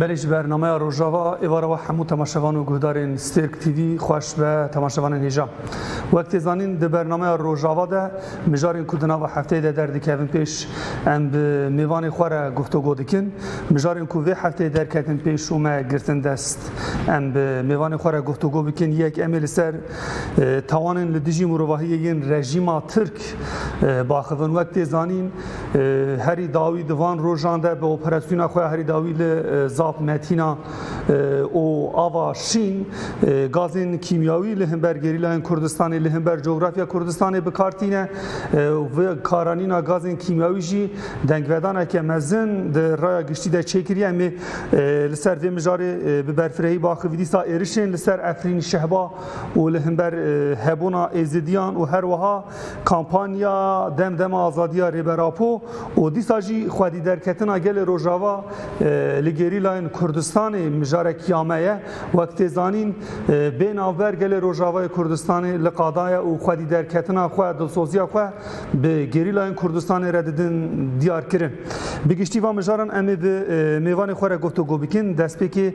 Belê ji bernameya Rojava êvara we hemû temaşevan û guhdarên Stêrk TV xweş be temaşevanên hêja. Wek tê zanîn di bernameya Rojava de mijarên ku di nava hefteyê de derdikevin pêş em bi mêvanê xwe re guhtogo dikin. Mijarên ku vê hefteyê derketin pêş û me girtin dest em bi mêvanê xwe re guhtogo bikin yek em ê li ser tawanên li dijî mirovahiyê yên rejîma Tirk biaxivin. Wek tê zanîn Herî dawî di van rojan de bi operasyona xwe ya herî dawî li Zap Metîna û Ava Şîn gazên kîmyawî li hember gerîlayên Kurdistanê li hember cografya Kurdistanê bi kar tîne û vê karanîna gazên kîmyawî jî dengvedaneke mezin di raya giştî de çêkiriye. Em ê li ser vê mijarê bi berfirehî baxivî dîsa êrişên li ser Efrîn Şehba û li hember hebûna Êzidiyan û her wiha Kampanya Dem Dema Azadiya Rêber Apo û dîsa jî xwedîderketina gelê Rojava li gerîlayên Kurdistanê mijarekîya me ye. Wek tê zanîn bê navber gelê Rojavayê Kurdistanê li qada ye û xwedîderketina xwe, dilsoziya xwe bi gerîlayên Kurdistanê re didin diyarkirin. Bi giştî van mijaran em ê bi mêvanê xwe re gotûgo bikin, destpêkê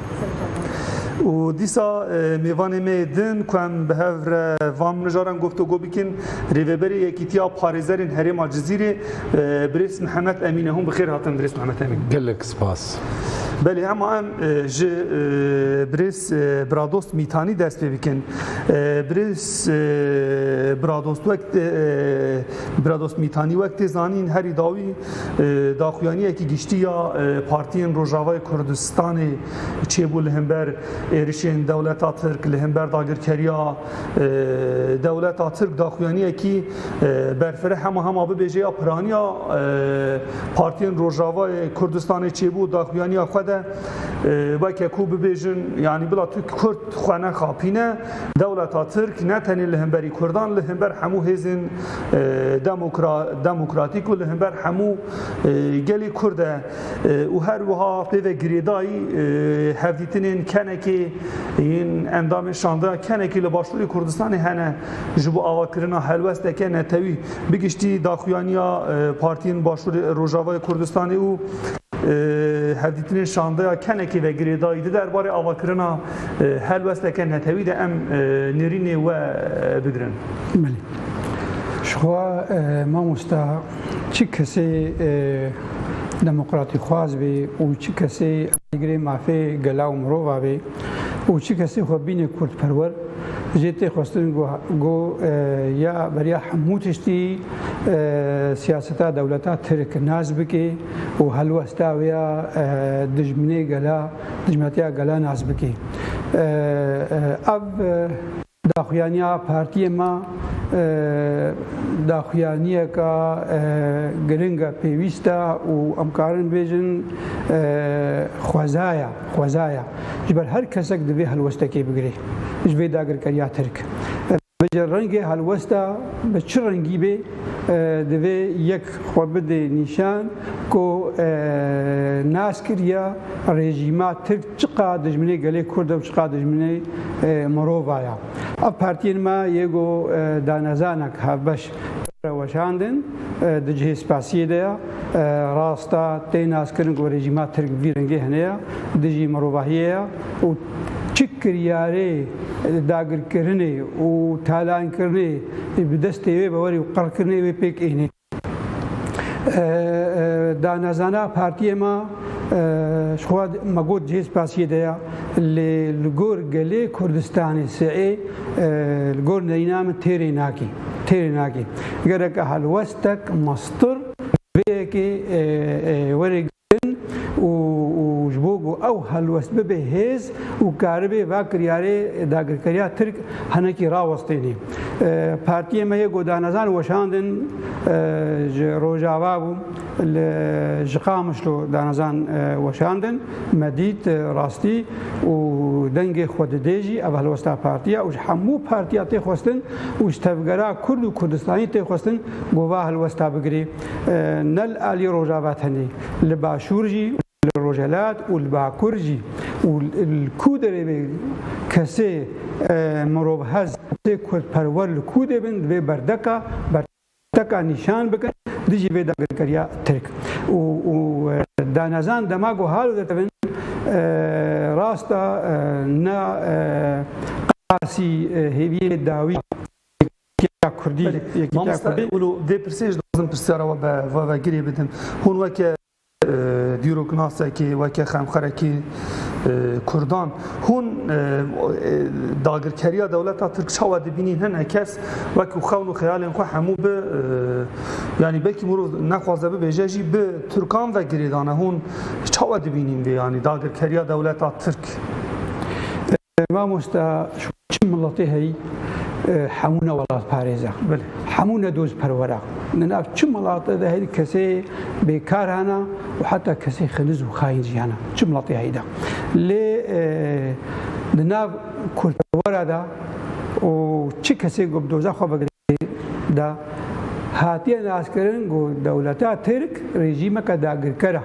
Û dîsa mêvanê me yê din ku em bi hev re van mijaran guftûgo bikin, Rêveberê Yekîtiya Parêzerên Herêma Cizîrê Birêz Mihemed Emîn e. Hûn bi xêr hatin Birêz Mihemed Emîn. Gelek spas. Belê hema em ji Birêz Biradost Mîtanî dest pê bikin. Birêz Biradost wek Biradost Mîtanî wek tê zanîn herî dawî, Daxuyaniyekî giştî ya partiyên Rojavayê Kurdistanê çêbû li hember êrişên dewleta Tirk li hember dagirkeriya dewleta Tirk daxuyaniyekî berfireh hema hema bibêje ya piraniya partiyên Rojavayê Kurdistanê çêbû daxuyaniya xwe de weke ku bibêjin yanî bila tu Kurd xwe nexapîne dewleta Tirk ne tenê li hemberî Kurdan li hember hemû hêzên demokratîk û li hember hemû gelê Kurd e û her wiha pêve girêdayî hevdîtinên kenekê yên endamên şandeya kenekê li başûrê Kurdistanê hene ji bo avakirina helwesteke netewî bi giştî daxuyaniya partiyên başûrê Rojavayê Kurdistanê û hevdîtinên şandeya kenekê ve girêdayî di derbarê avakirina helwesteke netewî de em nêrînê we bigirin. Jixwe mamosta çi kesê demokratîxwaz bê û çi kesê alîgirê mafê gela û mirova bê û çi kesê xwe bîne kurdperwer jê tê xwestin ku ya beriya hemû tiştî siyaseta dewleta tirk nas bike û helwesta wê ya dijminê gela dijminatiya gela nas bike ev Daxuyaniya partiyê me daxuyaniyeke giring e, pêwîst e û em karin bêjin xweza ye, xweza ye ji ber her kesek divê helwestekê bigirê ji vê dagirkeriya tirk bicî rengê helwesta bi çi rengî bê divê yek xwe bidê nîşan ku nas kiriye rejîma tirk Çiqa dijminê gelê Kurd e û çiqa dijminê mirova ya. Ev partiyên me yê ku danezanek hevbeş re weşandin di cihê spasiyê de ya. Rast e tê naskirin ku rejîma Tirk bi vî rengê hene ya dijî mirovahiyê ya û çi kiryarê dagirkirinê û talankirinê ji bi destê wê be werî û qirkirinê wê pêk ênê. Danezana partiyê me ji xwe me got cihê spasiyê de ye lê li gor gelê Kurdistanê siê li gor neyna min têrê nakê. Têrê nakê. Gereke helwestek, mastir vê yekê were kirin û ji bo ku ew helwest bibe hêz û karibe va kiryarê dagirkeriya Tirk hinekî rawestêne. Partiyê me yê ku danezan weşandin ji Rojava bû li ji Qamişlo danezan weşandin me dît rastî û dengê xwe didê jî ev helwesta partiya û ji hemû partiya têxwestin û ji tevgera Kurd û Kurdistanî têxwestin ku va helwesta bigirê. Nel alî Rojava tenê, li Başûr jî, li Rojhelat û li Bakur jî û li ku derê be kesê mirovhez, kesê kurdperwer li ku de bin divê berdeka berteka nîşan bikin dijî vê dagirkeriya Tirk û û danezan dema ku hal dide tevin rasta na qasî hêviyê dawî. Yekîtiya Kurdî, Yekîtiya Kurdî. Wilo vê pirsê ji dixwazim pirsyara we bi ve girê bidim. Hûn weke dîroknasekî, weke xemxerekî Kurdan, hûn dagirkeriya dewleta Tirk çawa dibînîn? Hene kes wek ku xewn û xeyalên xwe hemû bi yanî belkî mirov nexwaze bibêje jî bi Tirkan ve girê dane. Hûn çawa dibînîn vê yanî dagirkeriya dewleta Tirk? Ev mamosta ji çi miletê heyî? Hemû ne welatparêz e. Hemû ne dozperwer e. Di nav çi milate de heyî kesê bêkar hene û heta kesê xeniz û xayîn jî hene. Çi miletê heyî de. Lê di nav kurdperwera de û çi kesê ku bi doza xwe ve girêdayî de hatiye naskirin ku dewleta Tirk rejîmeke dagirker e.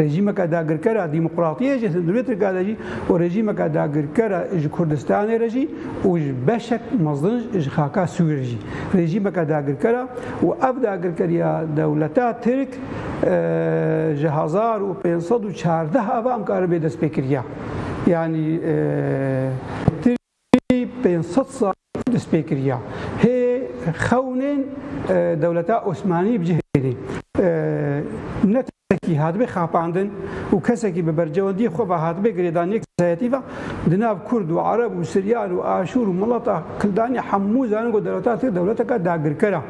Rejîmeke dagirker a dîmoqratiyê ji Sindûrê Tirka de jî û rejîmeke dagirker a ji Kurdistanê re jî û ji beşek mezin ji xaka Sûrê re jî rejîmeke dagirker a û ev dagirkeriya dewleta Tirk ji hezar û pênc sed û çardeh ava em karibe destpêkiriya yanî Piştî pênc sed sal destpê kiriya hê xewnên dewleta Osmanî bi cih bêne. Ne terekî hatibê xapandin û kesekî bi bercewendiyê xwe ve hatibê girêdan yek kesayetî ve. Di nav kurd û ereb û siryan û aşûr û milata kildanê hemû zanin ku dewleta tirk dewleteke dagirker e.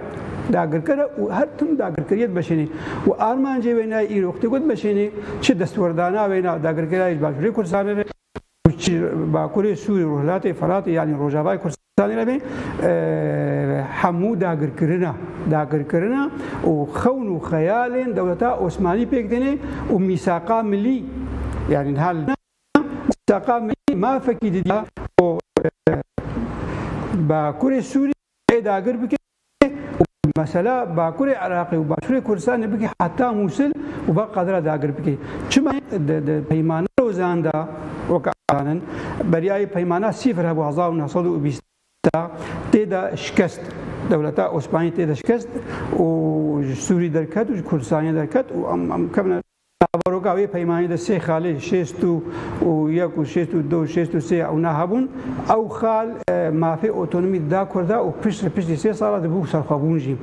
Dagirker e û her tim dagirkeriyê dimeşêne û armancê wêne îro ku tê ku dimeşêne çi destwerdana wêne dagirkeriya ji Başûrê Kurdistanê re, Ku çi Bakurê Sûrî Rojhilatê Firatê yanî Rojavayê Kurdistanê re bê hemû dagirkirina dagirkirina û xewn û xeyalên dewleta Osmanî pêk dêne û mîsaqa milî yanî niha li mîsaqa milî mafekî didiya ku Bakurê Sûrî Ew dagir bike û mesela Bakurê Iraqê û Başûrê Kurdistanê bike heta Mûsil û ba qadira dagir bike. Çima di Peymana Lozan de weke azanin beryayê Peymana Sîfir hebû hezar û neh sed û bîst de tê de şikest dewleta Osmanî tê de şikest û ji Sûrî derket û ji Kurdistanê derket û em kevine Baroka wê peymanî de sê xalê şêst û yek û şêst û du û şêst û sê ewna hebûn. Ew xal mafê otonomî dida Kurda û pişt li piştî sê sala di bû serxwebûn jî.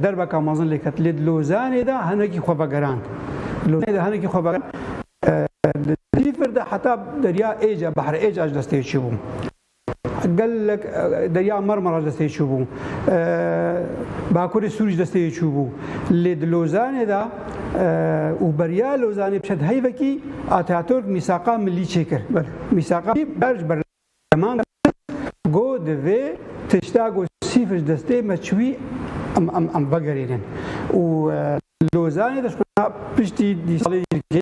Derbeka mezin lê ket lê di Lozanê de hinekî xwe vegerand. Di Lozanê de hinekî xwe vegerand. Di Dîfir de heta Derya Êca, Behr Êca ji destê çûbû. Gelek Derya Marmara ji destê çûbû, Bakurê Sûrî ji destê yê çûbû lê di Lozanê de û beriya Lozanê bi heyvekî Ataturk mîsaqa milî çêkir. Mîsaqa ber ji berleman kir ku divê tişta ku sîfir ji destê me çûbî em vegerînin û Lozanê de ji xwe re piştî salê yekê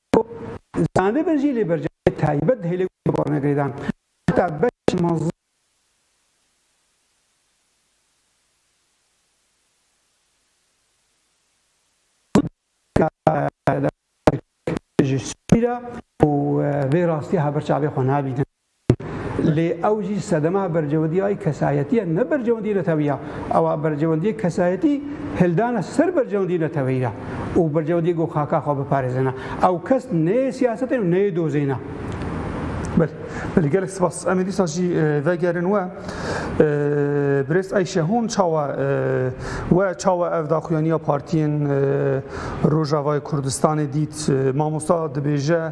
Ku zanibin jî lê bercavekî taybet dihêle ku dixwarin girêdan heta beşê manzil. Ji sûcî re û vê rastî haber çavê xwe nabînin. Lê ew jî sedema berjewendîya yê kesayetî ye ne berjewendîyê neteweyî ya. Ewa berjewendîyê kesayetî hildane ser berjewendîyê neteweyî ya û berjewendîyê ku xaka xwe biparêze ne. Ew kes neyê siyasetê û neyê dozê ne. Belê, belê gelek spas. Em ê dîsa jî vegerin we. Birêz Eyşe hûn çawa we çawa ev daxuyanîya partîyên Rojavayê Kurdistanê dît? Mamosta dibêje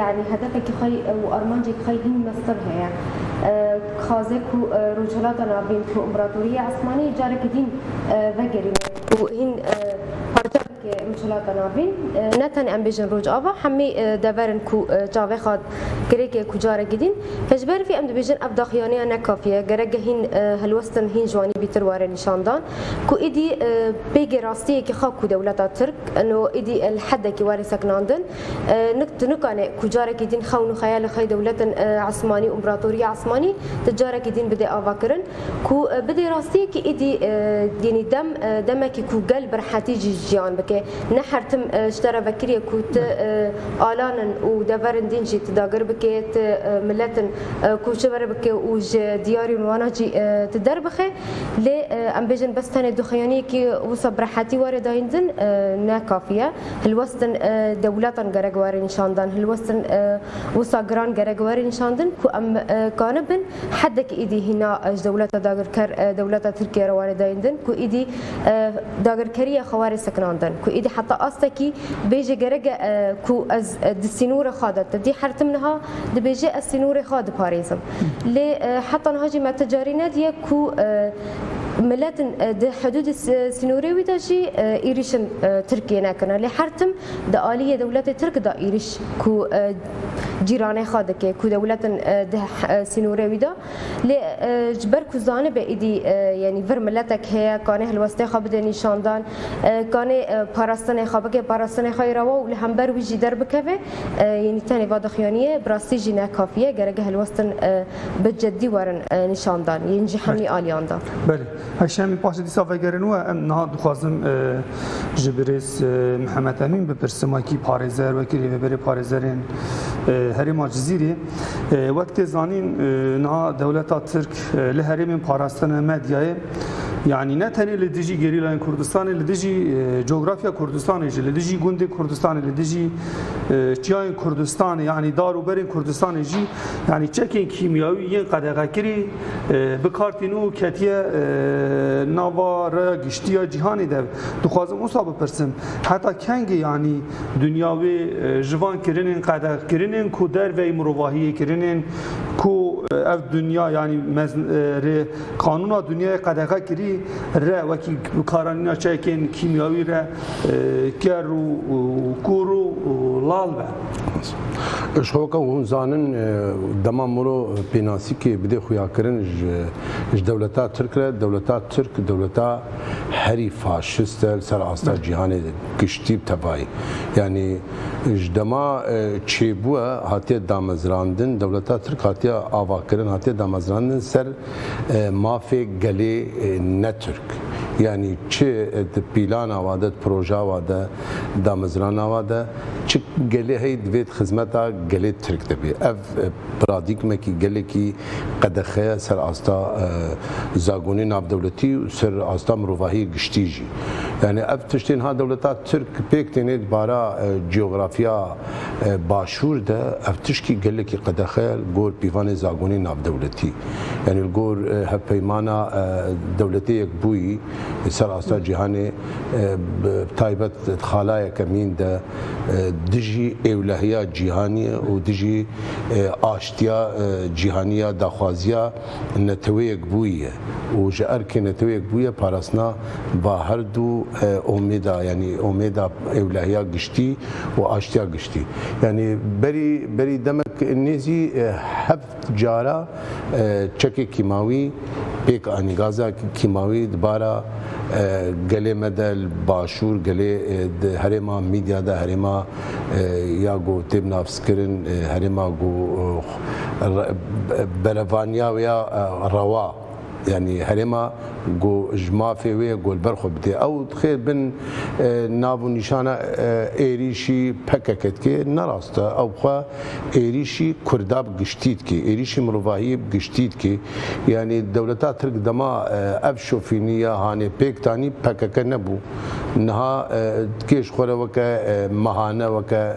Yanî hedefekî xwe û armancekî xwe hîn mestin heye. Dixwaze ku Rojhilata Navîn ku împaratorîya Esmanî carekî dîn vegerîne û hîn parça bike Rojhilata Navîn. Ne tenê em bêjin Rojava, hemî dever in ku çavexa girêkê ku carekî dîn. Ji ber vî em dibêjin ev daxuyanîya ne kafî ye. Gerek ge hîn hilwestin hîn ji wanî bîtir were nîşandan ku îdî pêgê rastiyekî xa ku dewleta Tirk ino îdî li hedekî were sekinandin. Nik tu nikanê ku carekî dîn xewn û xeyalê xwe yê dewletin esmanî û împeratoriya esmanî tu carekî dîn bidê avakirin ku bidê rastiyekî îdî yenî dem demekî ku gel bi rehetî jî jiyan bike. Ne her tim ji te re vekiriye ku tu alan in û deverên dîn jî tu dagir bike, tu milet in koçeber bike û ji diyarên wana jî tu derbixe. Lê em bêjin bes tenê duxeyaniyekî wisa bi rehetî were dayîn din ne kafî ye. hilwestin dewletan gerek were nîşandan, hilwestin wisa giran gerek were nîşandin ku em kanibin hedek îdî hîna ji dewleta dagirker dewleta Tirkiye re were dayîn din ku îdî dagirkeriya xwe were sekinandin ku îdî heta astekî bêje gereke ku ez di sînorê xwe de te dî hertim niha dibêje ez sînorê xwe diparêzim lê heta niha jî me ti carî nediye ku miletin di hidûdê sînorê wî de jî êrîş in Tirkiyê nekirine. Lê her tim di aliyê dewletê Tirk de êrîş ku cîranê xwe dike ku dewlet in di sînorê wî de. Lê ji ber ku zanibe êdî yanî vir miletek heye kanê helwestê xwe bide nîşandan, kanê parastinê xwe bike parastinê xwe yê rewa û li hember wî jî derbikeve yanî tenê va dixuyanîye bi rastî jî ne kafî ye gereke helwestin bi ceddî werin nîşandan, yên jî hemî aliyan da. Belê. Ev şemê paşê dîsa vegerên we em niha dixwazim ji birêz Mihemed Emîn bipirsim wekî parêzer, wekî rêveberê parêzerên herêma Cizîrê. Wek tê zanîn niha dewleta Tirk li herêmên parastine medyayê yanî ne tenê li dijî gerîlayên Kurdistanê li dijî cografya Kurdistanê jî li dijî gundên Kurdistanê li dijî çiyayên Kurdistanê yanî dar û berên Kurdistanê jî Yanî çekên kîmyawî yên qedexekirî bi kar tîn û ketiye nava raya giştî ya cîhanê de. Dixwazim wisa bipirsim, heta kengî yanî dinya wê ji van kirinên qedex kirinên ku derveyî mirovahiyê kirinên ku ev dinya yanî rê qanûna dinyayê qedexe kirî re wekî bikaranîna çekên kîmyawî re ker û kûr û lal be. Ji hoka hûn zanin dema muro pênasîkê bidê xuyakirin ji dewleta tirk re, dewleta tirk dewleta herî faşist e li ser asta cîhanê de giştî bi tevayî. Yanî ji dema çêbûye hatiye damezrandin, dewleta tirk hatiye avakirin, hatiye damezrandin ser mafê gelê ne tirk. Yanî çi di pîlana wa de, di projeya wa de. Damezrana wa de çi gelê heye divê di xizmeta gelê Tirk de bê. Ev pradîgmekî gelekî qedexe ye ser asta zagonê navdewletî û ser asta mirovahiyê giştî jî. Yanî ev tiştê niha dewleta Tirk pêk têne di bara cografiya Başûr de ev tişkî gelekî qedexe ye li gor pîvanê zagonê navdewletî. Yanî li gor hevpeymana Dewletê Yekbûyî ser asta cîhanê. bi taybet di xalayeke mîn de dijî êwlehiya cîhanî û dijî aştiya cîhanî ya daxwaziya neteweyek bûye û ji erkê neteweyek bûye parastina ba herdu omêda yanî omêda êwlehiya giştî û aştiya giştî yanî berî berî demek nêzî hev Cara çekê kîmawî pêk anî. Gaza kîmawî di bara gelê me de li başûr, gelê di herêma Mîdya de, herêma ya ku tê binavskirin herêma ku berevaniya wê ya rewa, Yanî herêma ku ji mafê wê ye ku li ber xwe bidê. Ew xêr bin nav û nîşana êrîşî pkk dike. Ne rast e. Ew bi xwe êrîşî kurda bi giştî dike. Êrîşî mirovahiyê bi giştî dike. Yanî dewleta tirk dema ev şofînî ya hanê pêk danî pkk nebû. Niha dikê ji xwe re weke mehane weke.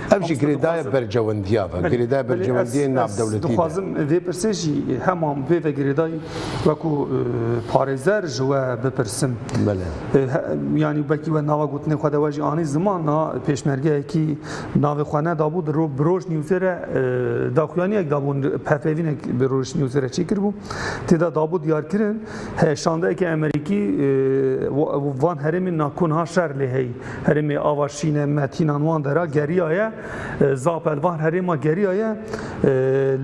Ev jî girêdaya berjewendiya be, girêdaya berjewendiyên navdewletî be. Ez dixwazim vê pirsê jî hema vê vegirêdayî wekû parêzer ji we bipirsim. Belê. Yanî wekî we nava gotinê xwe de we jî anî ziman na pêşmergeyekî navê xwe nedabû di bi Rojnewsê re daxuyaniyek dabû pevpevînek bi Rojnewsê re çêkiribû. Têde dabû diyarkirin heyşandeyeke Emerîkî van herêmên na ku niha şer lê heyî Herêmê ava şîne me tînan wan de ra geriyaye. Zapelvan herêma geriyaye.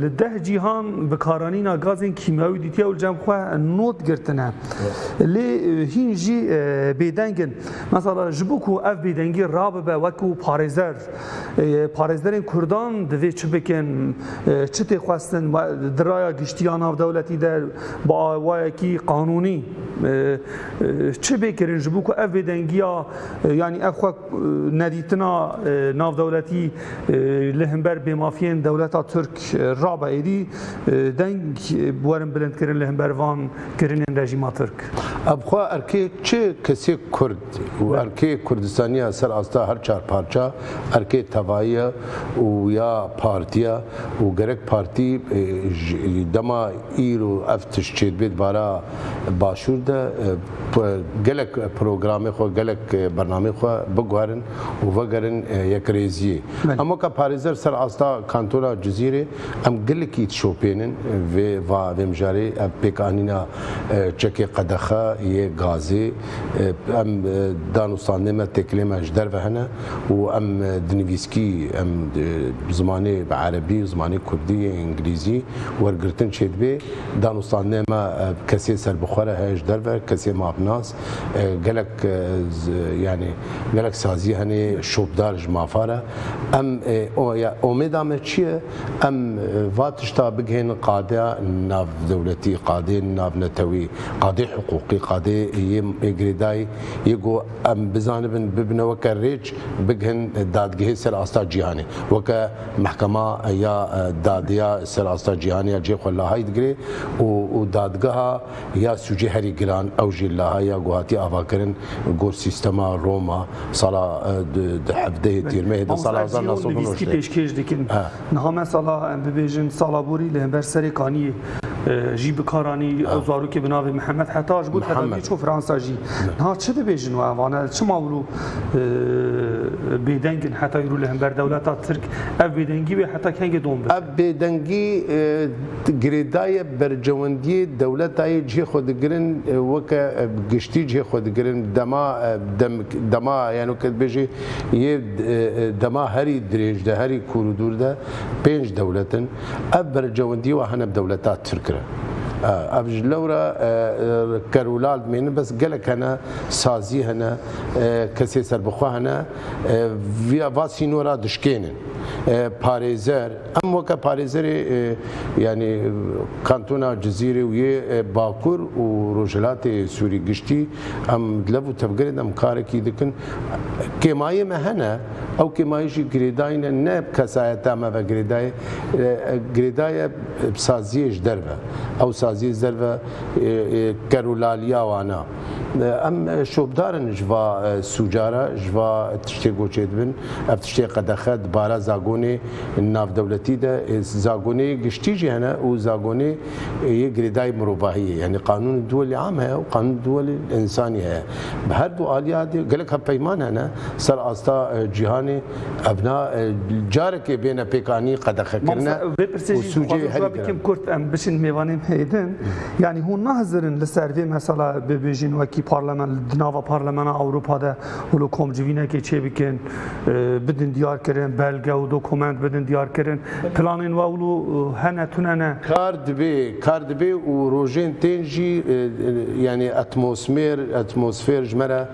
Li deh cîhan bikaranîna gazên kîmyawî dîtiye û cem xwe not girtine. Lê hîn jî bêdeng in. Mesela ji bo ku ev bêdengî rabibe wekû parêzer, parêzerên kurdan divê çi bikin, çi tê xwestin di raya giştî ya navdewletî de bi awayekî qanûnî Çi bê kirin ji bo ku ev bêdengiya yanî ev xwe nedîtina navdewletî li himber bêmafiyên dewleta Tirk rabe êdî deng werin bilindkirin li himber van kirinên rejîma Tirk? Ev xwe erkê çi kesêk Kurd û erkê Kurdistaniya ser asta her çar parça, erkê tevayî ye û ya partî ye û gerek partî ji dema Îro ev tişt çêdibê di bara Başûr de gelek programê xwe, gelek bernameyên xwe biguherin û vegerin yekrêziyê. Em weke parêzer ser asta kantona Cizîrê em gelekî dişopênin vê va vê mijarê ev pêkanîna çekê qedexe yê gazê. Em danûstandê me têkilê me ji derve hene û em di nivîskî em zimanê bi erebî û zimanê kurdî yê îngilîzî wergirtin çêdibê. Danûstandê me kesê serbixwe re heye ji derve kesê mafnas gelek yanî gelek sazî henê şopdar ji mafa re. Em omêda me çi ye? Em va tişta bigihênin qadeya navdewletî, qadê navnetewî, qadê hiqûqî, qadê yê girêdayî yê ku em bizanibin bibine weke rêç bigihin dadgehê ser asta cîhanê. Weke mehkema ya dadê ya ser asta cîhanê ya cihê xwe lahayî digire û dadgeha Ya sûcê herî giran ew jî laha ya ku hatiye avakirin gor sîstema Roma sala du du hevdehê tîrmehê de sala hezar neh sed û newî nivîskî pêşkêş dikin. Niha me sala em bibêjin sala borî li hember serê kaniyê jî bi kar anî ew zarokê bi navê Mihemed heta ji bo tedaviyê çû Fransa jî. Niha çi dibêjin we vane çima wilo bêdeng in heta îro li hember dewleta Tirk? Ev bêdengî wê heta kengê dom bibe? Ev bêdengî Girêdayê berjewendiyê dewleta yê cihê xwe digirin weke giştî cihê xwe digirin dema dema yeno ke dibêjî yê dema herî dirêj de herî kûr û dûr de pênc dewlet in. Ev berjewendiyê wa hene bi dewleta tirk re. Ev ji lewra ker û lal dimênin bes gelek hene sazî hene kesê serbixwe hene vîya va sînora dişkênin. Parêzer. Em weke parêzerê yanî kantona Cizîrê û yê Bakur û Rojhilatê Sûrî giştî em di lev û tevgerê de em karekî dikin. Kêmayê me hene, ew kêmayî jî girêdayî ne, ne bi kesayeta me ve girêdayê, girêdayê bi saziyê ji derve. Ew saziyê ji derve kerûlaliya wan e. Em şopdar in ji va sûca re, ji va tiştê goçê dibin. Ev tiştê qedexe di bara zagonê navdewletî de, zagonê yê giştî jî hene û zagonê yê girêdayî mirovahî yê. Yanî qanûnê duwelî am heye û qanûnê duwelî însanî heye. Bi her du aliya de gelek hevpeyman hene ser asta cîhanê. Ev na carekê bêne pêkanî qedexekirine û sûcê herî bikim kurt em biçin mêvanên hêdin. Yanî hûn nahizirin li ser vê mesela bibêjin wekî parlemen di nava parlemena Ewropa de û li komcivînekê çê bikin bidin diyar kirin belge û dokument bidin diyar kirin planên we wilo hene tune ne. Kar dibê kar dibê û rojên tên jî yanî etmosmêr etmosfêr ji me re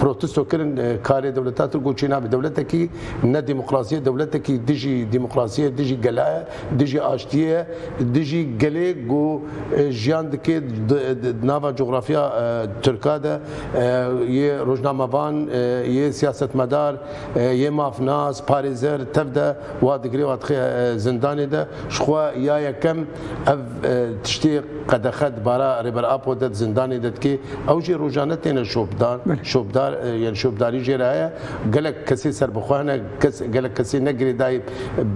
Protesto kirin karê dewleta Tirk û çênabe. Dewletekî ne demokrasî ye, dewletekî dijî demokrasî ye, dijî gela ye, dijî aştiyê ye, dijî gelê ku jiyan dike di nava cografiya Tirka de yê rojnamevan, yê siyasetmedar, yê mafnas, parêzer tev de wa digire wa dixe zindanê de. Ji xwe ya yekem. Ev tiştê qedexe dibara Rêber Apo de di zindanê de dikê. Ew jî rojane têne şopdan, şopdar yani şopdarî jê re heye. Gelek kesê serbixwe hene, kes gelek kesê ne girêdayî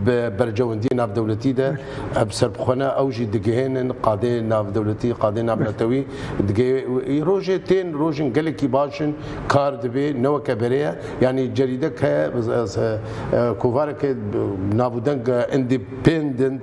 bi bercewendiyê navdewletî de. Ev serbixwe ne ew jî digihênin qadê navdewletî, qadê navnetewî digê. Îro jê tên rojên gelekî baş in, kar dibê ne weke berê ye. Yanî cerîdek heye kovareke navûdeng independent.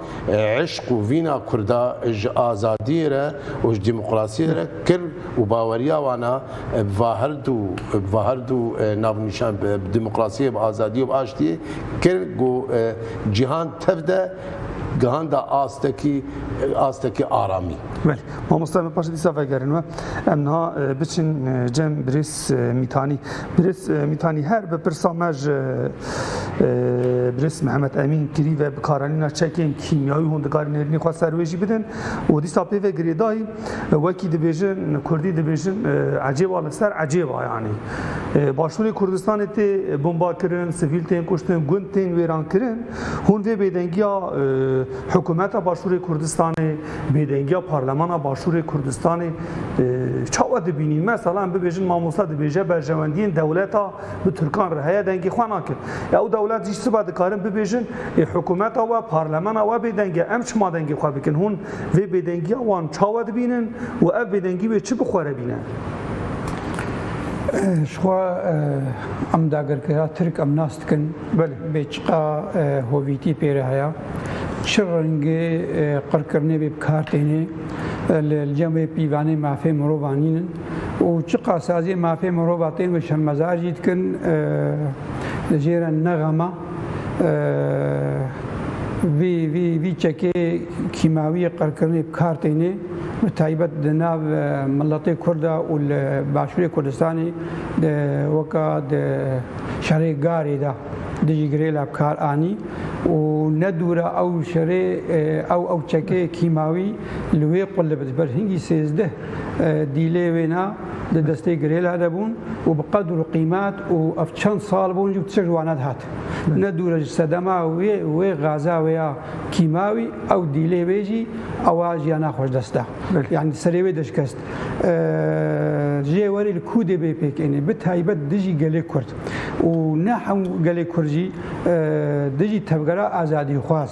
Eşq û vîna Kurda ji azadiyê re û ji demokrasiyê re kir û baweriya wan e bi va herdu bi va herdu navnîşan bi demokrasiyê, bi azadiyê û bi aştiyê kir ku cîhan tev de gihanda astekî astekî aramî. Belê. Mamosta em ê paşê dîsa vegerin we. Em niha biçin cem birêz. Mîtanî, Birêz Mîtanî her bi pirsa me ji Birêz Mihemed Emîn kirî ve bikaranîna çekên kîmyayî hûn dikarî nêrînê xwe ser wê jî bidin û dîsa pê ve girêdayî wekî dibêjin kurdî dibêjin ecêba li ser ecêba yanî başûrê Kurdistanê tê bombakirin, sivîl tên kuştin, gund tên wêrankirin hûn vê bêdengiya hikûmeta başûrê Kurdistanê Bêdengiya Parlemana Başûrê Kurdistanê çawa dibînî? Mesela em bibêjin mamosta dibêje berjewendiyên dewleta bi Tirkan re heye dengê xwe nake. Ya ew dewlet jî sibe dikarin bibêjin ê hikûmeta we, parlemana we bêdeng e em çima dengê xwe bikin? Hûn vê bêdengiya wan çawa dibînin û ev bêdengî wê çi bi xwe re bîne? Ji xwe em dagirkera Tirk em nas dikin. Belê. Bê çiqa hovîtî pê re heya, çi rengê qirkirinê bê bikar têne, li cem wê pîvanê mafê mirovan nînin û çiqa saziyê mafê mirova tên ve şermezar jî dikin, li jê re ne xema vî vî vî çekê kîmawiyê qirkirinê bikar têne, bi taybet di nav miletê Kurd de û li Başûrê Kurdistanê de weka di şerê garê de dijî girêla bi kar anî û ne dûra ew şerê ew ew çekeyê kîmawî li wê qulib ji ber hingî sêzdeh dîlê wêna di destê girêla de bûn û bi qedr û qîmet û ev çend sal bûn jî tişt wana dihat. Ne dûra ji sedema wê wê gaza wê ya kîmawî ew dîlê wê jî ewa jiyana xwe ji dest da. Yanî serê wê de şikest. Ji yê werî li kû dê bê pêkenê bi taybet dijî gelê Kurd û ne hemû gelê Kurd jî dijî tevgera azadîxwaz.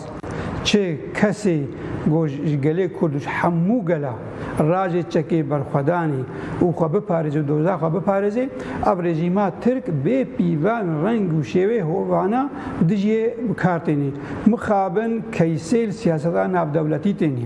Çi kesê ku ji gelê Kurd û ji hemû gela racê çekê berxwedanê û xwe biparêze û doza xwe biparêze, ev rejîma Tirk bê pîvan reng û şêwê hovana dijî yê bi kar têne. Mixabin keysêl siyaseta navdewletî têne.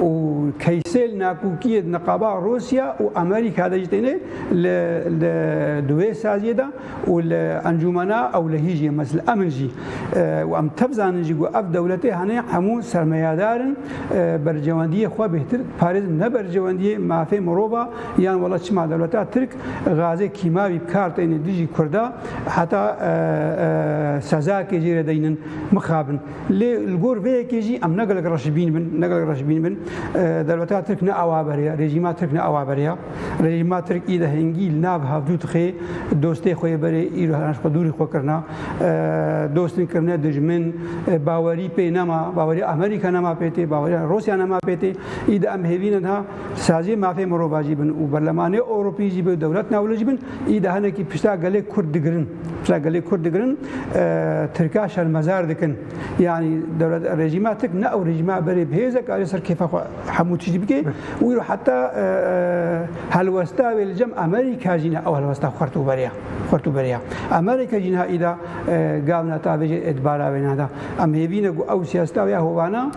û keysel nakokiyê di niqaba Rûsya û Amerîka de jî têne li li di wê saziyê de û li Encûmena Ewlehî jî mes li emin jî û em tev zanin jî ku ev dewletê hanê hemû sermayedar in berjewendiyê xwe bêhtir parêzin ne berjewendiyê mafê mirova yan wela çima dewleta Tirk gazê kîmawî bi kar têne dijî kurda heta sezakê jê re deynin mixabin. Lê li gor vê yekê jî em ne gelek reşbîn bin, ne gelek reşbîn bin. Dewleta Tirk ne awa berê ya, rejîma Tirk ne awa berê ya. Rejîma Tirk î de hingî li nav havdû dixê, dostê xwe yê berê îro her xwe dûrî xwe kirina. Dostên kirine dijmin, bawerî pê nema, bawerî Amerîka nema pê tê, bawerî Rûsya nema pê tê. Î de em hêvî ne niha saziyê mafê mirovan jî bin û berlemanê Ewropî jî bin, dewlet newle jî bin, î de hinekî pişta gelê Kurd digirin. Pişta gelê Kurd digirin Tirka şermezar dikin. Yani dewlet rejîma tik ne ew rejîma berê bihêze ka alê ser kêfa xwe hemû tiştî bike û îro heta helwesta wê li cem Amerîka jî ne ew helwesta xwert û beriya xwert û beriya. Amerîka jî niha îda gav ne ta vê jê ê di bara wê ne de. Em hêvîne ku ew siyaseta wê ya hovana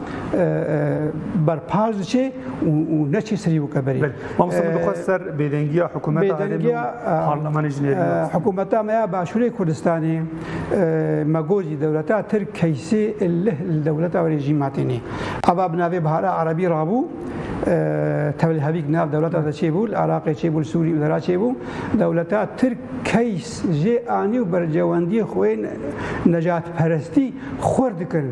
berpas diçê û neçê serî weke berê. Mamosta min dixwest ser bêdengiya hikûmeta herêmê û parlemanê jî nêrîne. Hikûmeta me ya Başûrê Kurdistanê me got jî dewleta Tirk keysê lih li dewleta wê jî ma têne. Ava bi navê Bihara Erebî rabû tewlhevîk nav dewleta de çêbû, li Iraqê çêbû, li Sûrî û Lira çêbû. Dewleta Tirk keys jê anî û bercewendiyê xwe yê nejatperestî xurt dikin.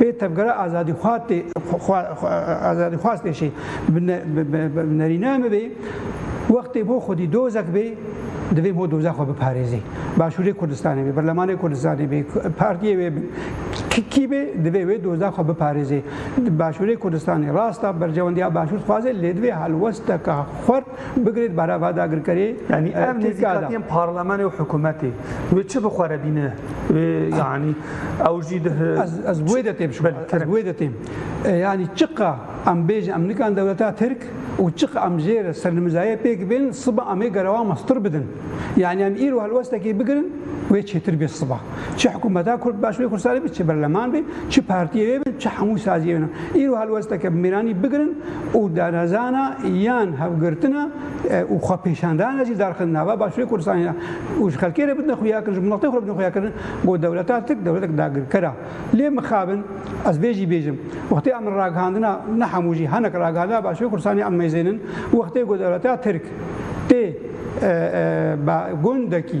Pê tevgera azadîxwaz tê jî bi nerînaya me bê, wextê bo xwedî dozek bê, divê bo dozek xwe biparêzê. Başûrê Kurdistanê bê, berlemanê Kurdistanê bê, partiyê wê bê, kî bê divê wê dozek xwe biparêzê. Başûrê Kurdistanê rast e, berjewendiya başûr dixwaze lê divê helwesteke xurt, Bigirêt berava dagirkerê yanî ev nêzîkatiyên parlemenê û hikûmetê wê çi bi xwe re bîne wê yanî ew jî di Ez wê de tê bişim ez wê de têm yanî çiqa em bêjin em nikan dewleta Tirk û çiqa em jê re sernimizayê pêk bên siba em ê gerewa me stir bidin yanî em îro helwestekê bigirin wê çêtir bê siba. Çi hikûmeta Kurd Başûrê Kurdistanê be, çi berleman be, çi partiyê wê be, çi hemû saziyê wê ne. Îro helwesteke bi mêranî bigirin û darazana yan hevgirtina û xwepêşandana jî darxin nava Başûrê Kurdistanê de û ji xelkê re bidin xuyakirin, ji miletê xwe re bidin xuyakirin ku dewleta Tirk dewletek dagirker a. Lê mixabin ez vê jî bêjim. Wextê em ragihandina, ne hemû jî, hinek ragihandina Başûrê Kurdistanê em mêzênin, wextê ku dewleta Tirk tê bi gundekî,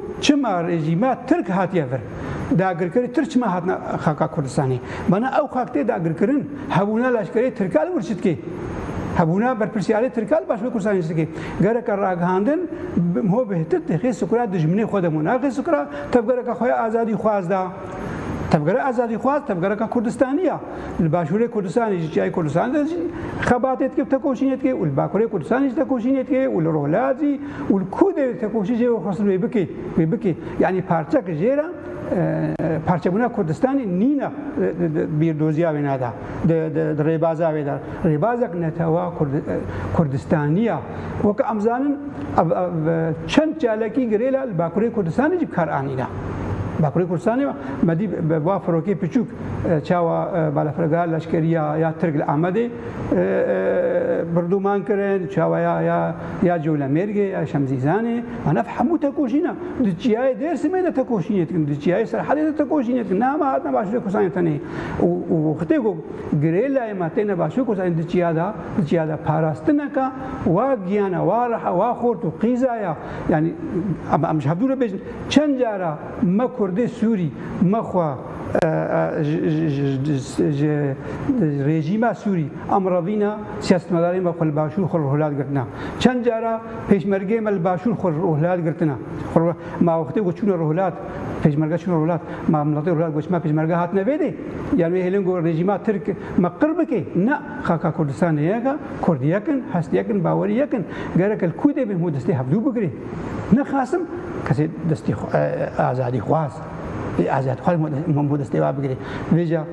Çima rejîma Tirk hatiye vir, dagirkerî Tirk çima hatine xaka Kurdistanê? Bana ew xak tê dagirkirin, hebûna leşkerê Tirka li wir çi dike? Hebûna berpirsyarê Tirka li başûrê Kurdistanê çi dike? Gereke ragihandin ho bi htit dixê sikura dijminê xwe de mû naxê sikura tevgereke xwe ya azadîxwaz de. Tevgera azadîxwaz tevgereke Kurdistanî ya. Li başûrê Kurdistanê jî çiyayê Kurdistanê de jî xebatê dike û tekoşînê dike û li bakurê Kurdistanê jî tekoşînê dike û li Rojhilat jî û li ku dê tekoşî jê wê xwesin wê bikê wê bikê yanî parçek jê re parçebûna Kurdistanê nîna bîrdoziya wê nada di rêbaza wê de rêbazek netewa Kurdistaniya weke em zanin ev ev çend çalakî girêla li Bakurê Kurdistanê jî kar anîna. Bakurê Kurdistanê me dî bi va firokê piçûk çawa balafirgeha leşkeriya ya Tirk li Amedê birdûman kirin çawa ya ya ya Colemêrgê ya Şemzîzanê an ev hemû tekoşîn e. Di çiyayê Dêrsimê de tekoşînê dikin, di çiyayê Serhedê de tekoşînê dikin. Ne hema hatine Başûrê Kurdistanê tenê û wextê ku girêlayê me têne Başûrê Kurdistanê di çiya de di çiya de parastineke wa giyan e, wa reha, wa xort û qîza ya. Yanî em em ji hevdû re bêjin çend cara me Kurdê Sûrî me xwe ji rejîma Sûrî Em razî ne siyasîtmedarên me xwe li başûr xwe rûhilad girtine. Çend cara pêşmergeyên me li başûr xwe rûhilad girtine. Ma wextê ku çûne rûhilad, pêşmerge çûne rûhilad, ma miletê rûhilad ku çima pêşmerge hatine vê dê? Yan wê hêlin ku rejîma Tirk me qir bike? Na, xaka Kurdistanê yek e, Kurd yek in, hest yek in, bawerî yek in. Gerek li kû dê bên hûn destê hevdû bigirê. Nexasim kesê destê azadîxwaz. Ê ez ez xwe min bû destê we bigirê. Vêca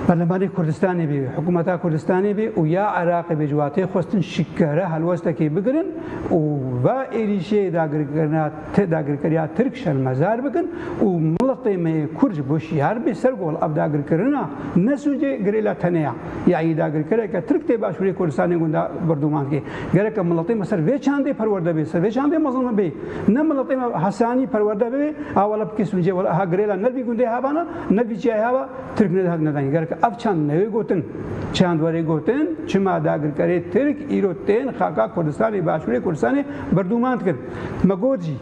Berlemanê Kurdistanê bê, hikûmeta Kurdistanê bê û ya Iraqê bê ji watê xwestin şikere helwestekê bigirin û va êrîşê dagirkirina dagirkeriya Tirk şermezar bikin û miletê me yê Kurd ji bo şiyar bê ser gol. Ev dagirkirina ne sûcê girê la tenêya ya yê dagirkereke Tirk tê başûrê Kurdistanê gundan Burdûman kê. Gereke miletê me ser vê çandê perwerde bê, ser vê çandê mezin bibê. Ne miletê me Hesanî perwerde bibê, a wele bikê Sincê, wele eha girêla ne vî gundê hava ne, ne vî çiyayê hava Tirk ne dihek nedayîn. Gereke ev çand newê gotin. Çand werê gotin, çima dagirkerê Tirk îro tên xaka Kurdistanê, başûrê Kurdistanê berdûman dikin. Me got jî,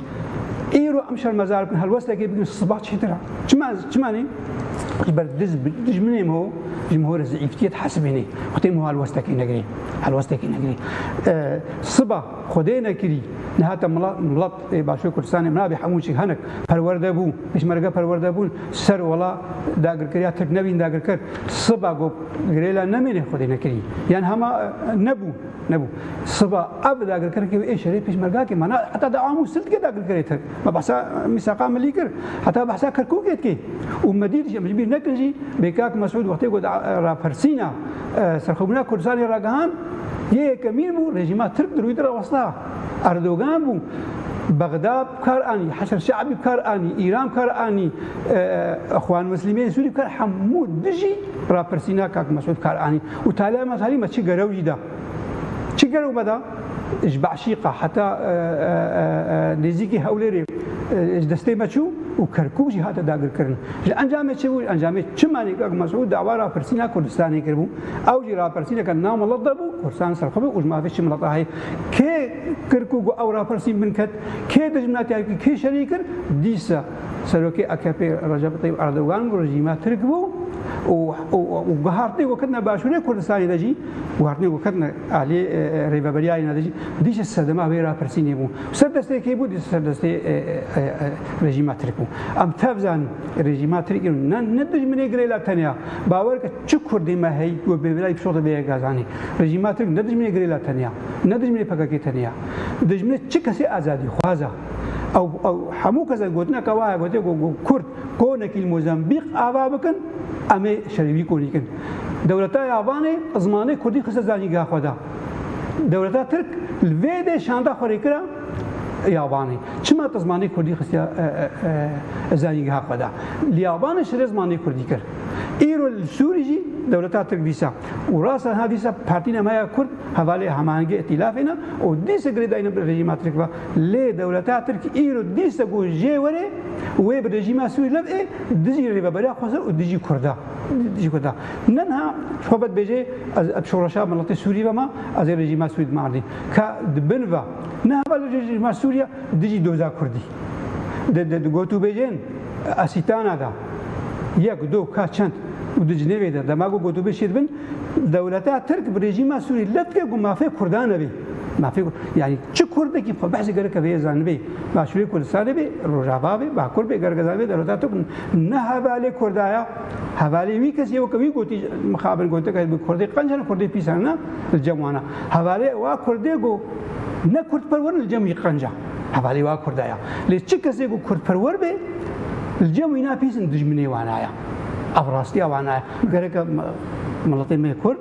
îro em şermezar bikin, helwestekê bikin, siba çêtir a. Çima, çima nê? Ji ber diz bi dijminê me ji me re zîîftiyê dihesibînê û tê me helwestekê negirê helwestekê negirê. Siba Xwedê nekirî niha te milat milat ê Başûrê Kurdistanê nabê hemû çik hinek perwerde bû pêşmerge perwerde bûn ser wala dagirkeriya Tirk nebîn dagirker siba got girêla nemênê Xwedê nekirî yan hema nebû nebû siba ev dagirkerkê ê şerê pêşmergakê mana heta de amû sildikê dagirkerê Tirk Me behsa mîsaqa milî kir, heta behsa Kerkûkê dike û me dît jî, em ji bîr nekin jî bê kak Mesûd wextê ku di rapirsîna serxwebûna Kurdistanê ragihand, yê yekemîn bû rejîma Tirk di rûyê rawestda. Erdogan bû Bexda bi kar anî, Heşr Şe'bî bi kar anî, Îran bi kar anî, Exwan Mislîmên Sûrî bi kar hemû dijî rapirsîna kak Mesûd bi kar anî û taliya me salî me çi gerew jî da. Çi gerew me da? Ji Beşîqa heta nêzîkî Hewlêrê ji destê me çû û Kerkûk jî hate dagirkirin. Ji encamê çi bû? Ji encamê çimenê Kak Mesûd dawa rapirsîna Kurdistanê kiribû. Ew jî rapirsîneke nav milet de bû, Kurdistanê serxwe be û ji mafê çi milet a heye. Kê Kerkûk û ew rapirsîn binket, kê dijminatiya kê şerî kir, dîsa. Serokê AKP'ê Recep Tayyip Erdogan û rejîma Tirk bû û guhertinên ku ketine başûrê Kurdistanê de jî guhertinên ku ketine aliyê rêveberiya yê ne de jî dîşe sedema vê rapirsînê bû. Ser destê kê bû? Dîşe ser destê rejîma Tirk bû. Em tev zanîn rejîma Tirk îro ne ne dijminê girê la teneya bawer ke çi Kurdê me hey ku bê vila pişote bê yek azanî. Rejîma Tirk ne dijminê girê la teneya ne dijminê PKK'ê teneya. Dijminê çi kesê azadîxwaz e. Ew ew hemû kesek gotineke wa heye gotiye ku Kurd konekî li Mozambîq ava bikin em ê şerê wî konî kin. Dewleta ya Vanê zimanê Kurdî xiste zanîngeha xwe de. Dewleta Tirk li vê dê şanda xwe rê kira ya Vanê. Çima te zimanê Kurdî xistiye zanîngeha xwe de? Li ya Vanê şerê zimanê Kurdî kir. Îro li Sûrî jî dewleta Tirk dîsa û rasta niha dîsa Partîna me ya Kurd hevalê hemahengê îtîlafê ne û dîsa girêdayîna bi rejîma Tirk ve. Lê dewleta Tirk îro dîsa ku jê were wê bi rejîma Sûrî lev ê dijî rêveberiya Xweser û dijî Kurda. Ne niha xwe be dibêje ez bi şoreşa miletê Sûrî ve ma, ez ê rejîma Sûrî dima erdê. Ka di bin ve niha ve li rejîma Sûrî ya dijî doza Kurdî. Di gotûbêjên Esîtana de yek, do, ka, çend û di cinêvê de dema ku gotûbêj çêdibin dewleta Tirk bi rejîma Sûrî lev dike ku mafê Kurdan e bê. Ma fêr kir yanî çi kurdekî xwe behsê gereke vê zanibê, başûrê Kurdistanê bê, rojava bê, bakur bê, gereke zanibê derweta tok ne hevalê kurda ya, hevalê wî kesî ye weke wî gotî mixabin goteke bi kurdê qenc hene kurdê pîs hene li cem wan e. Hevalê wa kurdê ku ne kurdperwer in li cem wî qenc e. Hevalê wa kurda ya. Lê çi kesê ku kurdperwer bê li cem wîna pîs in dijminê wana ya. Ev rastiya wana ye. Gereke miletê me kurd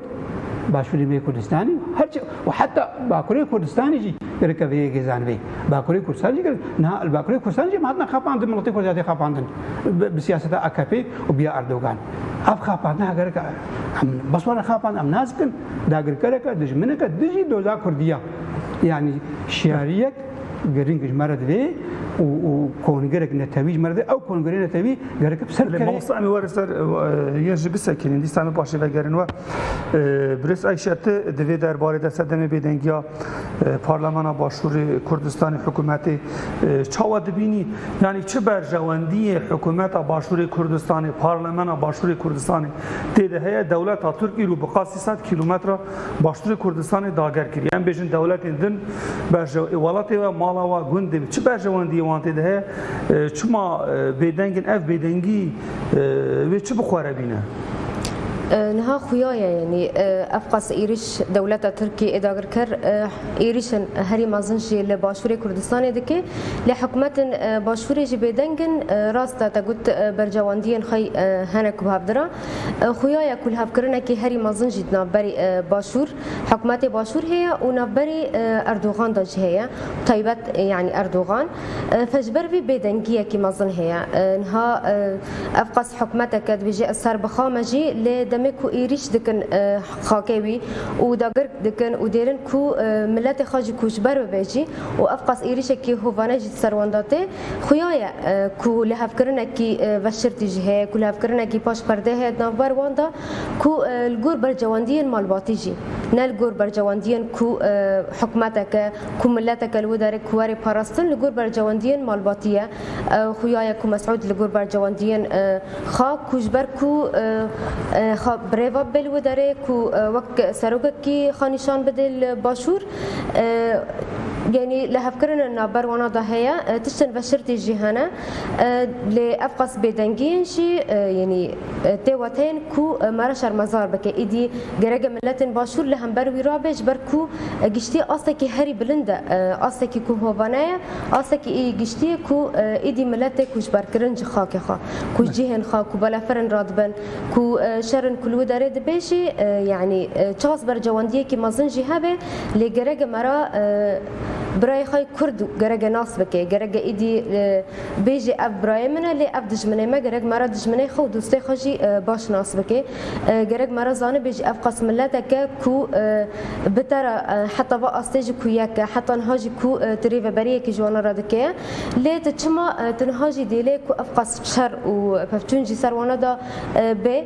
Başûrê me Kurdistanê û her çi û heta Bakurê Kurdistanê jî gerek e vê yekê zanibê. Bakurê Kurdistanê jî gerek e. Niha li Bakurê Kurdistanê jî em hatine xapandin, miletê Kurd jî hatiye xapandin bi siyaseta akp û biya Erdogan. Ev xapandina gerek e. Em bes wan e xapandin. Em nas bikin dagirkerek e, dijminek e dijî doza Kurdî ya. Yanî şiyariyek. Girîng ji me re divê û û kongirek netewî ji me re divê. Ew kongirê netewî gerek bi ser bikeve. Mamosta em ê were ser yên jî bisekînin. Dîsa em ê paşê vegerin we. Birêz Ayşe ti di vê derbarê de sedemê bêdengiya Parlemana Başûrê Kurdistanê hikûmetê çawa dibînî? Yanî çi berjewendiyê hikûmeta Başûrê Kurdistanê, Parlemana Başûrê Kurdistanê tê de heye? Dewleta Tirk îro bi qasî sed kîlometre Başûrê Kurdistanê dager kiriye. Em bêjin dewletên din berjew ê welatê we, mala we, gundê we çi berjewendiyê wan tê de heye? Çima bêdeng in? Ev bêdengî wê çi bi xwe re bîne? Niha xuya ye yanî ev qas êrîş dewleta Tirkî ê dagirker êrîşên herî mezin jî li Başûrê Kurdistanê dike. Lê hikûmetên Başûrê jî bêdeng in. Rast e te got berjewendiyên xwe hene ku bi hev dire. Xuya ya ku lihevkirinekê herî mezin jî di navberê Başûr, hikûmetê Başûr heye û navberê Erdogan de jî heye bi taybet yanî Erdogan fe ji ber vê bêdengiyekî mezin heye. Niha ev qas hikûmeteke dibêje ez ser bixame jî lê demê ku êrîş dikin xakê wî û dagir dikin û dêrin ku miletê xwe jî ku ji ber bibe jî û ev qas êrîşekî hovane jî di ser wan de tê, Xuya ye ku lihevkirinekî veşirtî jî heye, ku lihevkirinekî paş perdeyê heye di navber wan de ku li gor bercewendiyên malbatî jî ne li gor bercewendiyên ku hikûmeteke, ku mileteke li wê derê ku were parastin li gor bercewendiyên malbatî ye. Xuya ye ku Mesûd li gor bercewendiyên xwe ku ji ber ku xwe birêve bibe li wê derê ku wek serokekî xwe nîşan bide li başûr, Yanî lihevkirinên navber wana de heye, tiştên veşirtî jî hene. Lê ev qas bêdengiyên jî yanî tê we tên ku me re şermezar bike. Îdî gereke miletên başûr li hember wî rabe ji ber ku giştî astekî herî bilind e. Astekî ku hovane ye, astekî î giştî ye ku îdî miletê ku ji ber kirin ji xakê xwe, ku ji cihên xwe, ku belefirin re dibin, Ku şerên ku li wî derê dibe jî yanî çast bercewendiyekî mezin jî hebe lê gereke me re birayê xwe yê Kurd gereke nas bike. Gereke êdî bêjî ev birayê min e lê ev dijminê me gerek me re dijminê xwe û dostê xwe jî baş nas bike. Gerek me re zanibê jî ev qas miletek e ku bi te re heta va astê jî ku yek e heta niha jî ku tu rêveberiyekî ji wan re dike lê tu çima tu niha jî dê lê ku ev qas şer û pevçûn jî ser wan da bê.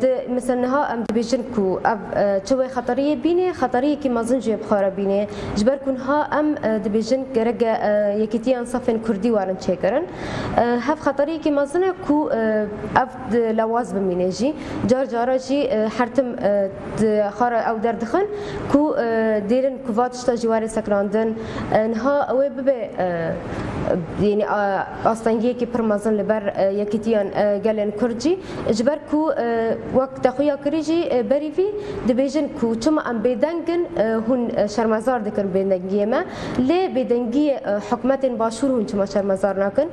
Di misal niha em dibêjin ku ev çi wê xeteriyê bînê, xeteriyekî mezin jî yê bi xwe re bînê. Ji ber ku niha em dibêjin gerek e yekîtiyan safên kurdî werin çêkirin. Hev xeteriyekî mezin e ku ev di lewaz bimînê jî. Car cara jî her tim di xwara ew derdixin ku dêrin ku va tişta jî were sekinandin. Niha wê bibe yanî. Astengiyekî pir mezin li ber yekîtiyan gelên Kurd jî ji ber ku wek te xuya kirî jî berî vî dibêjin ku çima em bêdeng in hûn şermezar dikin bêdengiyê me lê bêdengiyê hikûmetên başûr hûn çima şermezar nakin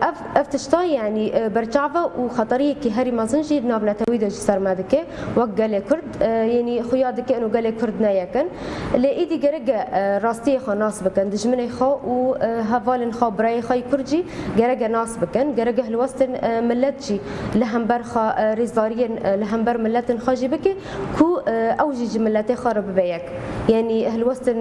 ev ev tişta yanî berçav e û xeteriyekî herî mezin jî di nav netewî de ji ser me dike wek gelê Kurd. Yanî xuya dike ino gelê Kurd ne yek in. Lê îdî gerek e rastiyê xwe nas bikin, dijminê xwe û hevalên xwe, birayê xwe yê Kurd jî gerek e nas bikin. Gerek e hilwestên milet jî li hember xwe, rêzdariyên li hember miletên xwe jî bike ku ew jî ji miletê xwe re bibe yek. Yanî hilwestên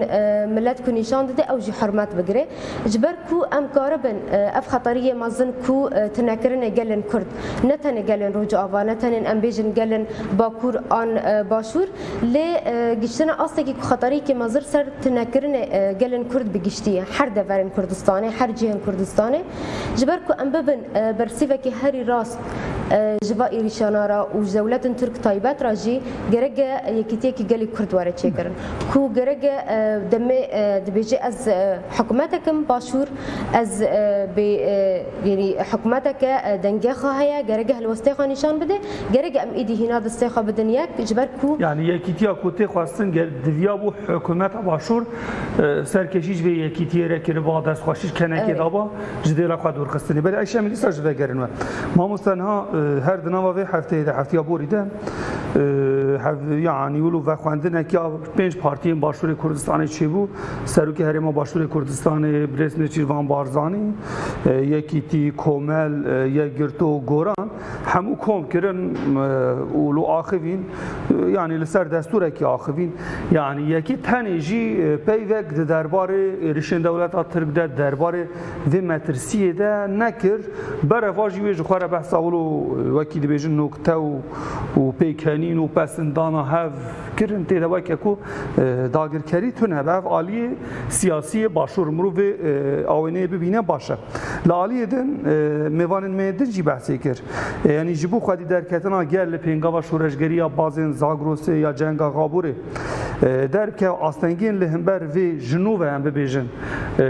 milet ku nîşan dide ew jî hurmet bigire. Ji ber ku em karibin ev xeteriyê mezin ku tunekirinê gelên Kurd, ne tenê gelên Rojava, ne tenên em bêjin gelên Bakur an Başûr, lê gihîştine astekî ku xeteriyekî mezir ser tunekirinê gelên Kurd bi giştî her deverên Kurdistanê, her cihên Kurdistanê, ji ber ku em bibin bersîvekî herî rast ji va êrîşana re û ji dewletin Turk taybet re jî, gerek e yekîtiyekî gelê Kurd were çêkirin. Ku gerege demê dibêje ez hikûmetek im başûr ez bê yanî hikûmeteke dengexa heye gerege helwestê xwe nîşan bide gerege em êdî hîna destê xwe bidin yek ji ber ku Yanî yekîtiya ku tê xwestin ger diviya bû hikûmeta başûr serkêşî ji vê yekîtiyê re kiriba destxweşî ji kenekê daba. ji dêla xwe dûr xistinê. Belê eşya min dîsa ji vegerin we. Mamosta niha her di nava vê hefteyê de heftiya borî de yanî wilo vexwendinekiya pênc partiyên Başûrê Kurdistanê çêbû. Serokê Herêma Başûrê Kurdistanê Birêz Nêçîrvan Barzanî, Yekîtî, Komel, Yekgirto, Goran hemû kom kirin û li axivîn yanî li ser desturekî axivîn yanî yekî tenê jî peyvek di derbarê êrişên dewleta Tirk de derbarê vê metirsiyê de nekir bereva jî wê ji xwe re behsa wilo wekî dibêjin nokte û pêkenîn û pesindana hev kirin tê de weke ku dagirkerî tune be ev aliyê siyasiyê başûr mirovê awêneyê bibîne baş e. Li aliyê din mêvanên me yê din jî behsê kir. Yanî ji bo xwedî derketina gel li pêngava şoreşgeriya Bazên Zagrosê ya Cenga Xaborê derke astengên li himber vê ji nû ve em bibêjin.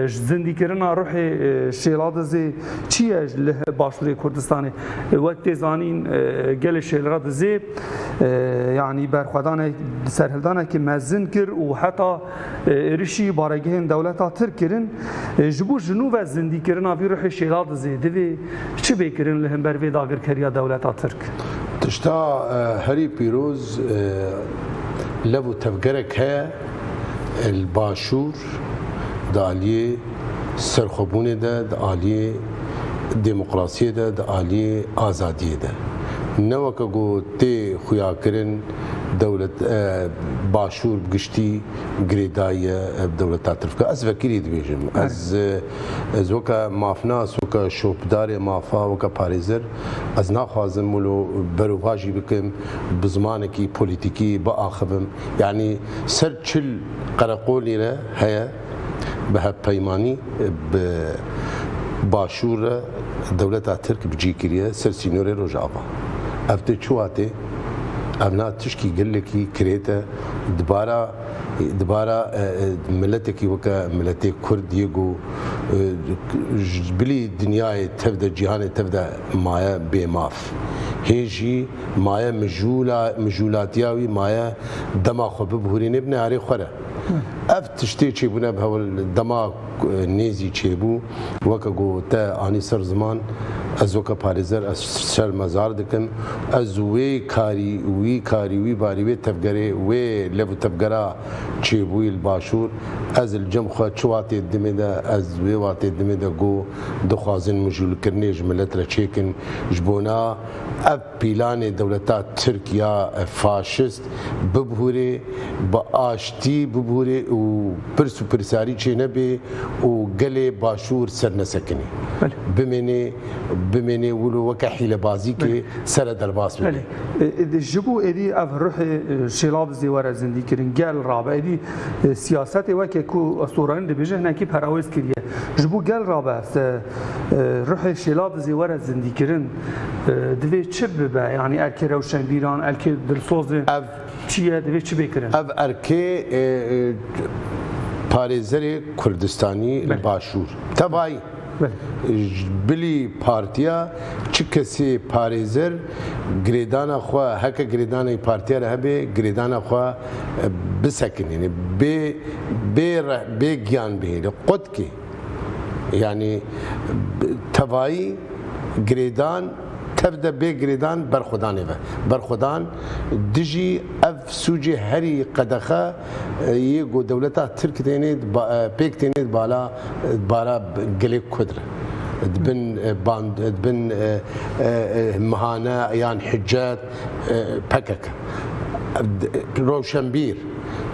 Zindîkirina ruhê Şêladizê çi ye li Başûrê Kurdistanê? Wek tê zanîn gelê Şêlra Dizê yanî berxwedanek serhildanekî mezin kir û heta êrişî baregehên dewleta Tirk kirin. Ji bo ji nû ve zindîkirina vî ruhê Şêla Dizê divê çi bê kirin li hember vê dagirkeriya dewleta Tirk? Tişta herî pîroz lev û tevgerek heye li Başûr. kir. Di aliyê serxwebûnê de, di aliyê demokrasiyê de, di aliyê azadiyê de. Ne weke ku tê xuyakirin dewlet Başûr bi giştî girêdayî ye bi dewleta Tirk ve. Ez vekirî dibêjim. Ez ez weke mafnas, weke şopdarê mafa, weke parêzer ez naxwazim wilo berovajî bikim, bi zimanekî polîtîkî biaxivim. Yanî ser çil. Qereqolî re heye bi hevpeymanî bi Başûr re dewleta Tirk bi cî kiriye ser sînorê Rojava. Ev tê çiwatê? Ev na tişkî gelekî kirêt e di bara di bara miletekî weke miletê Kurd yê ku ji bilî dinyayê tev de cîhanê tev de maye bêmaf. Hê jî. maye mijûla mijûlatiya wî maye dema xwe bibhurînê bi nearê xwe re. Ev tiştê çêbûne bi hewl dema nêzî çêbû weke ku te anî ser ziman ez weke parêzer ez şermezar dikim ez wê karî wî karî wî barî wê tevgerê wê lev û tevgera çêbûyî li başûr ez li cem xwe çi watê dimê de ez wê watê dimê de ku dixwazin mijûlkirinê ji milet re çêkin ji bona Ev pîlanê dewleta tirk ya faşist bibhûrê, bi aştî bibhûrê û pirs û pirsarî çênebê û gelê Başûr sernesekinê bimênê bimênê wilo weke hîlebazîkê sere derbas bibê. Belê. Ji bo êdî ev ruhê şêlabizê were zindîkirin, gel rabe. Êdî siyasetê weke ku Soranî dibêje hinekî perawêz kiriye. Ji bo gel rabe. Ruhê Şêla bi zê were zindîkirin divê çi bibe? Yanî erkê rewşenbîran, erkê dilsozên çi ye divê çi bê kirin? Ev erkê parêzerê Kurdistanî li Başûr. Tevayî ji bilî partiya çi kesê parêzer girêdana xwe heke girêdanê partiya re hebe girêdana xwe bisekinîne, bê bê giyan bihêle. Qotkê. Yanî bi tevayî girêdan tev de bê girêdan berxwedanê ve. Berxwedan dijî ev sûcê herî qedexe yê ku dewleta Tirk têne pêk têne di bala di bara gelê Kurd re. Di bin band di bin mihane yan hicret pkk, rewşenbîr,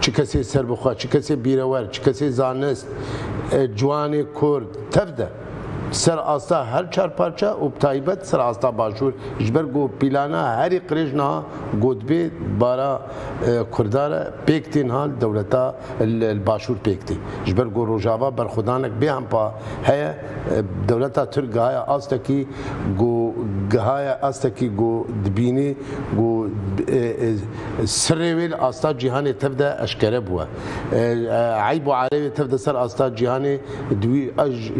çi kesê serbixwe, çi kesê bîrewer, çi kesê zanist, Ciwanê Kurd tev de ser asta her çar parça û bi taybet ser asta Başûr ji ber ku pîlana herî qirêj niha ku dibê bara Kurda re pêk tê niha li dewleta li Başûr pêk tê. Ji ber ku Rojava berxwedanek bê hempa heye dewleta Tirk gihaya astekî ku gihaya astekî ku dibînî ku sirrê wê li asta cîhanê tev de eşkere bûye. Eyb û arê wê tev de ser asta cîhanê di wî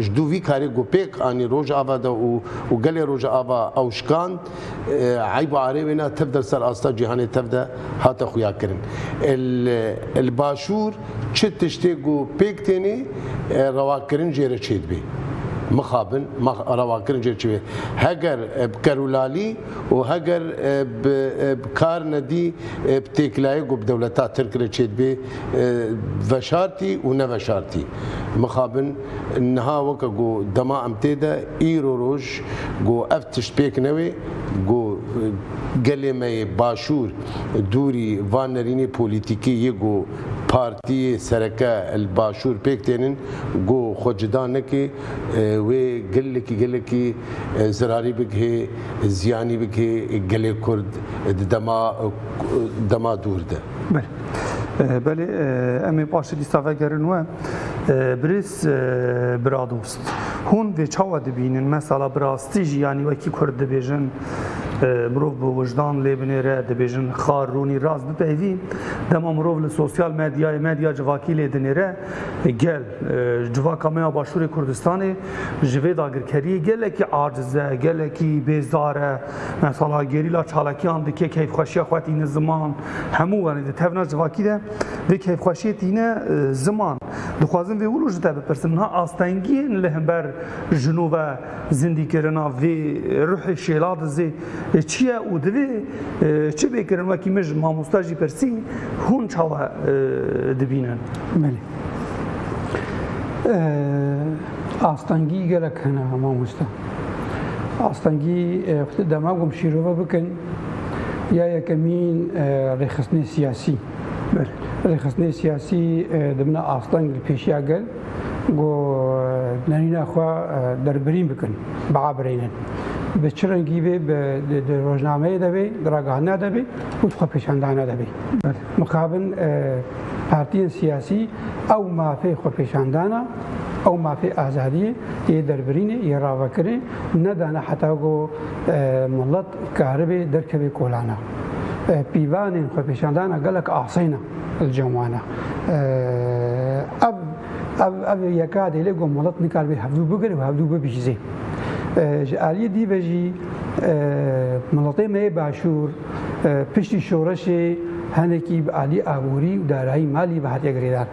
ji dû vî karê ku pêk anî Rojava de û û gelê Rojava ewşikand eyb û arê wê na tev de ser asta cîhanê tev de hate xuyakirin. Li Başûr çi tiştê ku pêk tênê rewakirin jê re çêdibê. Mixabin, rewakirin jê re çêdibê. Heger bi kerûlalî. û heger bi kar nedî bi têkilayê ku bi dewleta Tirk re çêdibê veşartî û neveşartî mixabin niha weke ku dema em tê de îro roj ku ev tişt pêk newê ku gelê me yê Başûr dûrî van nerînê polîtîkî yê ku partîyê sereke li Başûr pêk tênin ku xwe cida neke wê gelekî gelekî zirarî bigihê, ziyanî bigihê gelê Kurd di dema dema dûr de. Belê, belê em ê paşê dîsa vegerin we. Birêz biradost, hûn vê çawa dibînin? Mesela bi rastî jî yanî wekî Kurd dibêjin, mirov bi wijdan lê binêre, dibêjin xar, rûnî, rast bipeyvî. Dema mirov li sosyal medyayê, medya civakî lê dinêre. Gel, ji civaka me ya Başûrê Kurdistanê ji vê dagirkeriyê gelekî aciz e, gelekî bêzdar e. Mesela gerîla çalakiyan dike keyfxweşiya xwe tîne ziman. Hemû wenê di tevna civakî de vê keyfxweşiyê tîne ziman. Dixwazin vê wilo ji te bipirsin, niha astengiyên li hember jino ve Zindîkirina vê ruhê şêladizê çi ye û divê çi bê kirin? Wekî min ji mamosta jî pirsî, hûn çawa dibînin? Belê. Astengî gelek hene mamosta. Astengî xwedî dema gom şîrove bikin ya yekemîn rêxistinê siyasî. Rêxistinê siyasî dimine asteng li pêşiya gel. ku nêrîna xwe derbirîn bikin, biabirênin. Bi çi rengî bê, di rojnameyê de bê, di ragihandina de bê û di xwepêşandana de bê. Mixabin partiyên siyasî ew mafê xwepêşandana, ew mafê azadiyê yê derbirînê, yê ravekirinê nedane heta ku milet karibê derkeve kolana. Pîvanên xwepêşandana gelek asayî ne. li cem wan e. Ev ev ev yeka dê lê ku milet nikar bê hevdû bigir û hevdû bibihîzê. Ji aliyê dî ve jî miletê me yê başûr piştî şoreşê hinekî bi aliyê aborî û darayî malî ve hatiye girêdan.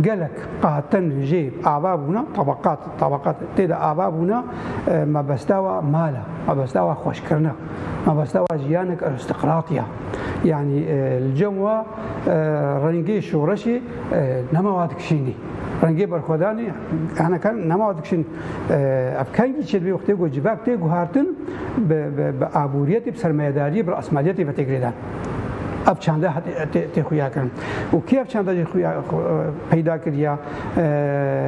Gelek qatin jê ava bûna tebeqat tebeqat tê de ava bûna mebestawa mal e, mebestawa xweşkirina. Mebestewa jiyanek aristokratî ya. Yanî li cem wa rengê şoreşê nema wa dikişînî. Rengê berxwedanê hene kan nema wa dikişîn. Ev kengî çi dibê wextê ku civak tê guhartin bi bi aboriyetê, bi sermayedariyê, bi rasmaliyetê ve tê girêdan. Ev çanda tê xuya kirin. Û kê ev çanda jî xuya peyda kiriya?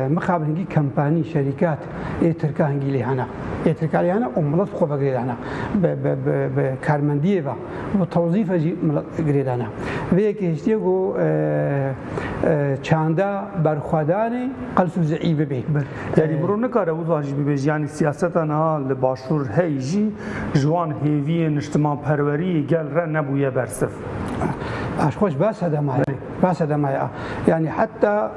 Mixabin hingî kompanî, şerîkat ê Tirka hingî lê hene. Ê Tirka lê hene û milet bi xwe ve girêdane. Bi bi bi bi karmendiyê ve û bi tewzîf ve jî milet girêdane. Vê yekê hiştê ku çanda berxwedanê qels û zî'î bibe. Yanî miro nikare wiha jî bibe jî yanî siyaseta niha li başûr hey jî ji wan hêviyên niştimanperweriyê gel re nebûye bersiv. Paşxweş ba sedema ye. Ba sedema ye. Yanî heta.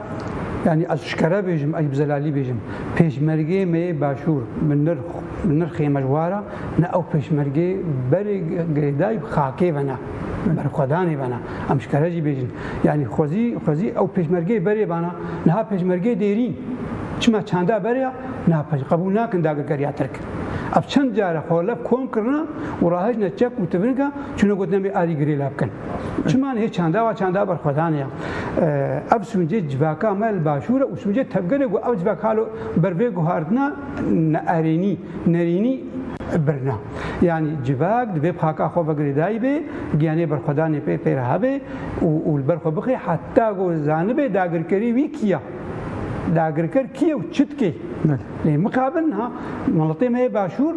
Yanî ez şikere bêjim, ez bi zelalî bêjim, pêşmergeyê me yê Başûr bi nirx bi nirxê me ji war e, ne ew pêşmergeyê berê girêdayî bi xakê ve ne, bi berxwedanê ve ne. Em şikere jî bêjin. Yanî xwezî xwezî ew pêşmergeyê berê bana, niha pêşmergeyê dêrîn çima çanda berê ya, niha pej qebûl nakin dagirkeriya Tirk. Ev çend car e xwe li hev kom kirine û rahejne çek û tivinka çûne gotinê em ê arî girê lav bikin. Çima nê çanda va çanda berxwedan ya. Ev sûncê civaka me li başûr e û sûncê tevgerê ku ev civak halo ber vê guhardina neerênî, nerînî birina. Yanî civak divê bi haka xwe ve girêdayî bê, giyanê berxwedanê pê pê re hebe û li ber xwe bixê heta ku zanibe dagirkerî wî kî ya. Dagirker kî ye û çi dike? Lê mixabin niha miletê me yê başûr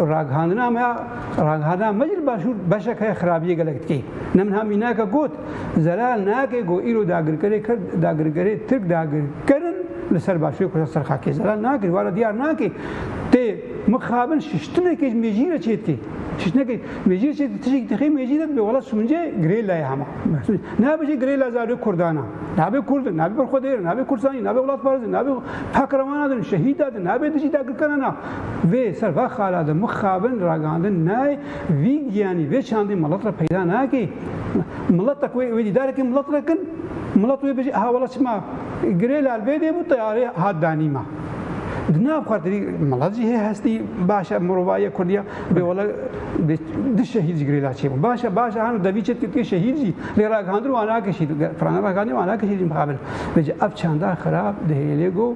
ragihandina me ya. Ragihandina me jî li Başûr beşek heye xerabiyê gelek dike. Ne min ha mînake got, zelal nake ku îro dagirkerê Kurd, dagirkerê Tirk dagirkerin li ser Başûrê Kurda ser xakê. Zelal nake jî were diyar nake. Tê mixabin şiştinekê ji mêjiyê re çêdike. Şiştinekê mêjiyê çêdike tiştekî dixê mêjiyê re dibê wela sûnce girêlaye hema. Nabe jî girêla zarokê Kurdan a. Nabe Kurdin, nabe berxwedêrin, nabe Kurdistanî, nabe welatparizin, nabe pakrewana din, şehîda din, nabe dijî dagirkeran a. Vê ser va xala de mixabin ragandin nayê vî giyanî vê çandî milet re peyda nake. Miletek wê wê dîdarekî milet re kin milet wê bijî aha wela çima girê lal bê dê bû teyarê hat danî ma. Di nav xwe tirî milet jî hê hestî baş e mirovayiya kurdiya bê wela bê du şehîd jî girê lal çêbû. Baş e baş e hano devî çê dikê şehîd jî lê ragihandin wan nake şehîd. Firana ragihandî wan nake şehîd jî mixabin. Vê jî ev çanda xirab dihêlê go.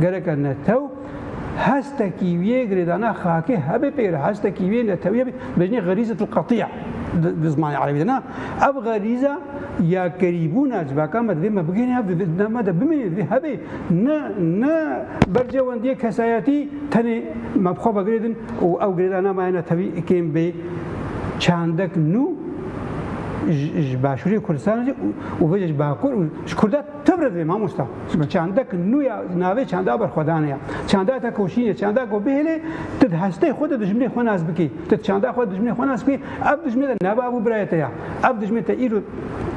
Gereke netew hestekî wî yê girêdana xakê hebê pê re, hestekî wî yê netewî hebê, dibêjinê xerîzetul qetî'a di zimanê erebî de na. Ev xerîza yakerîbûna civaka me divê me bigihîne hev, divê di nav me de bimîne, divê hebê. Ne ne bercewendiyê kesayetî tenê me bi xwe ve girêdin û ew girêdana me ya netewî kêm bê çandek nû ji Başûrê Kurdistanê jî û vê jî ji Bakur û ji Kurdan. Tu birêve mamosta, çima çanda ki nû ya navê çanda berxwedanê ya. Çanda te koşîn e, çanda ku bihêlê tu di hestê xwe de dijminê xwe nas bikî. Tu di çanda xwe de dijminê xwe nas bikî, ev dijmin de ne bav û birayê te ya. Ev dijmin te îro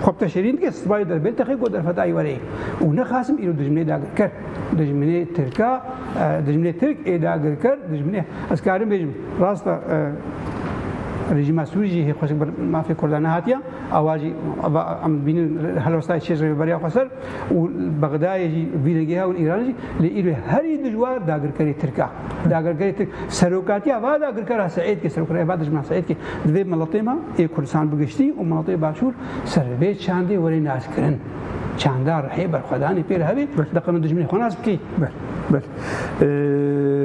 xwe bi te şêrîn dike, sibayê derbêl te xê ku derfetayî were yê. Û nexasim îro dijminê dagirker, dijminê tirka, dijminê tirk ê dagirker, dijminê ez karim bêjim rast e rejîma Sûrî jî hê xweşik ber mafê kurdan nehatiya. Ava jî ava em dibînin helwestayê çê ji rêveberiya xwe ser û Bexdayê jî vînegêha û Îranê jî lê îro herî dijwar dagirkerê Tirk a. Dagirkerê Tirk serokatiya va dagirkera Seîdkê serokatiya va dijmena Seîdkê di vê miletê me ê Kurdistan bi giştî û miletê Başûr ser bi vê çandê were naskirin. Çanda rihê berxwedanê pê re hebe deqeno dijminê xwe nas bikê. Belê.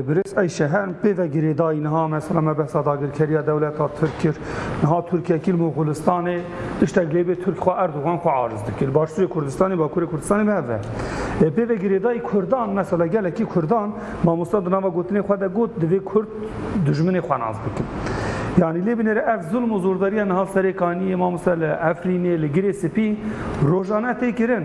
Birêz Eyşehe em pê ve girêdayî niha mesela me behsa dagirkeriya dewleta Tirk kir. Niha Tirkiye kîl Moxulistanê tiştek lê bê Tirk xwe Erdogan xwe ariz dike. Li başûrê Kurdistanê, bakurê Kurdistanê bi hev ve. Pê ve girêdayî Kurdan mesela gelekî Kurdan mamosta di nava gotinê xwe de got divê Kurd dijminê xwe nas bikin. Yanî lê binêre ev zilm û zordariya niha serê Kaniyê, mamosta li Efrînê, li Girê Sipî rojane tê kirin.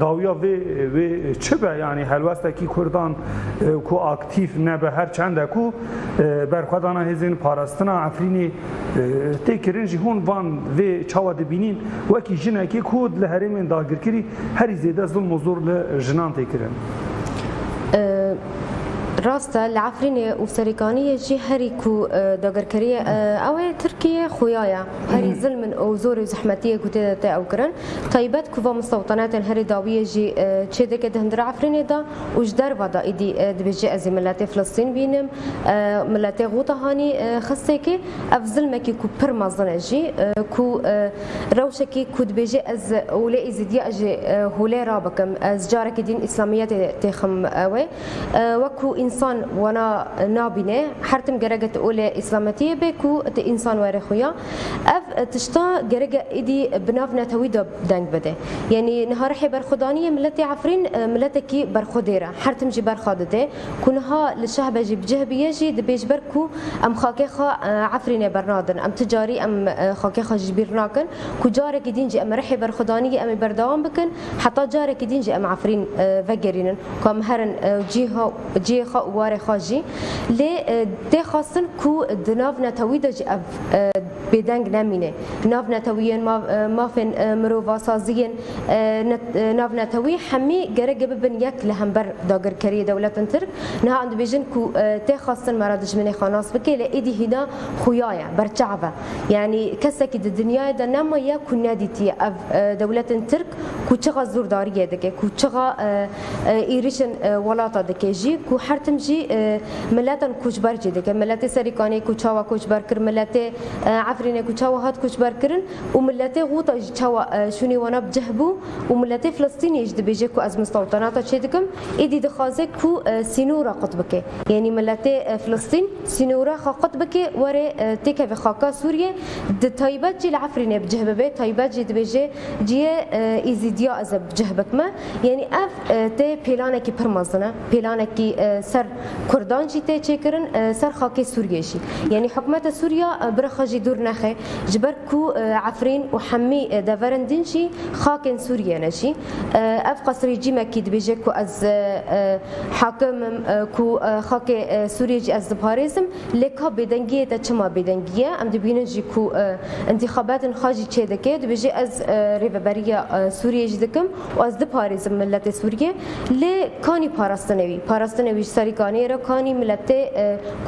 Dawiya vê wê çi be yanî helwestekî Kurdan ku aktîf nebe her çende ku berxwedana hêzên parastina Efrînê tê kirin jî hûn van vê çawa dibînîn wekî jinekê ku li herêmên dagirkirî herî zêde zilm û zor li jinan tê kirin. Rast e li Efrînê û serêkaniyê jî herî ku dagirkirî ye ew ê Tirkîyê xuya ye. Herî zilm in û zor û zehmetiyê ku tê de tê ew kirin. Taybet ku va mistewtanetên herî dawî yê jî çêdike di hundir Efrînê de û ji derve de îdî dibêjî ez ê miletê Filistîn bînim, miletê Ghuta Hanî xistêkê. Ev zilmekî ku pir mezin e jî ku rewşekî ku dibêjî ez Hûlê Îzîdî ye ez jî Hûlê rabikim ez carekî dîn Îslamiyetê têxim wê. Wek ku însan wana nabîne, her tim gereke tu olê îslametiyê bê ku tu însan were xwe ya. Ev tişta gereke êdî bi nav netewî de deng bide. Yanî niha rihê berxwe daniyê miletê Efrîn miletekî berxwedêr e. Her tim jî berxa dide. Ku niha li Şehbe jî bi cih biye jî dibê ji ber ku em xakê xwe Efrînê bernadin. Em tu carî em xakê xwe ji bîr nakin. Ku carekî din jî em rihê berxwedaniyê em ê berdewam bikin. Heta carekî dîn jî em Efrîn vegerînin ku em herin û cihê xwe û warê xwe jî lê tê xwestin ku di nav netewî de jî ev bêdeng nemîne. Nav netewî yên mafên mirovan, sazî yên nav netewî hemî gerek e bibin yek li hember dagirkeriyê dewletin Tirk. Niha em dibêjin ku tê xwestin me re dijminê xwe nas bike lê êdî hîna xuya ye, berçav e. Yanî kesekî di dinyayê de nemaye ku nedîtiye ev dewletên Tirk ku çixa zûrdariyê dike, ku çixa êrîşên welata dike jî, ku her tim jî miletan koçber jî dike. Miletê Serîkanê ku çawa koçber kir, miletê Efrînê ku çawa hat koçberkirin û miletê Ghuta jî çawa şûnê wana bi cih bû û miletê Filistînê jî dibêje ku ez mistewtanata çêdikim, Êdî dixwaze ku sînora qut bike. Yanî miletê Filistîn sînora xwe qut bike were têkeve xaka Sûriyê. Di taybet jî li Efrînê bi cih bibe. Taybet jî dibêje cihê Êzîdiya ez ê bi cih bikime. Yanî ev tê pêlanekî pir mezin e. Pêlanekî ser kurdan jî tê çêkirin, ser xakê Sûriyê jî. Yanî hikûmeta Sûriya bi re xwe jî dûr nexe. Ji ber. ku Efrîn û Hemî deverin din jî xakên Sûriyê ne jî. Ev qas rejîmekî dibêje ku ez hakim im, ku xakê Sûriyê jî ez diparêzim, lê ka bêdengiyê te çima bêdengî ye? Em dibînin jî ku întîxabetên xwe jî çêdike, dibêje ez rêveberiya Sûriyê jî dikim Ez diparêzim miletê Sûriyê lê kanî parastinê wî. Parastinê wî ji serî kaniyê re kanî miletê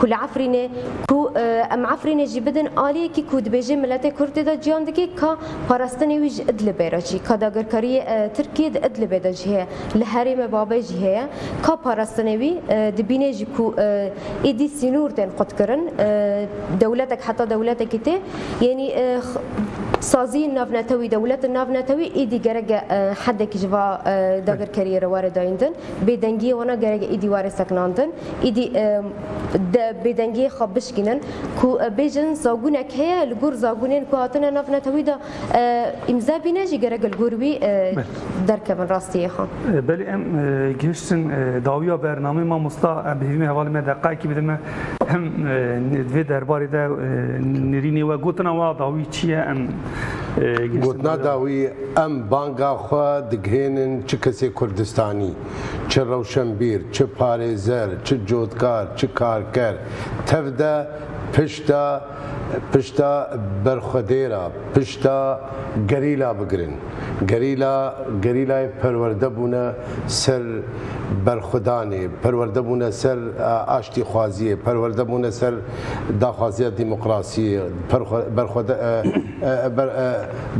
ku li Efrînê ku em Efrînê jî bidin aliyekî ku dibêjê miletê Kurd tê de ciyan dike ka parastinê wî ji Idlibê re çî ka dagirkariyê Tirkiyê di Idlibê de jî heye li herêmê Babê jî heye ka parastinê wî dibînê jî ku êdî sînûr tên qutkirin dewletek heta dewletekî tê Yanî saziyên navnetewî, dewletin navnetewî îdî gerek e hedekî ji va dagirkeriyê re ware dayîn din. Bêdengiyê wana gerek e îdî ware sekinan din. Îdî bêdengiyê xwe bişkînin. Ku bêjin zagunek heye li gor zagunên ku hatine navnetewî de îmze bîne jî gerek e li gor wî derkevin rastiyê xwe. Belê em gihiştin dawiya bernameyê mamosta em bi hêvî me hevalên me deqayekî bidin me Em di vê derbarê de nirînê we gotina wa dawî çi ye em Gotina dawî em banga xwe digihênin çi kesê Kurdistanî, çi rewşenbîr, çi parêzer, çi cotkar, çi karker, tev de, pişt de, Pişta berxwedêra, pişta gerîla bigirin. Gerîla, gerîlayê perwerde bûne ser berxwedanê, perwerde bûne ser aştîxwaziyê, perwerde bûne ser daxwaziya demokrasiyê,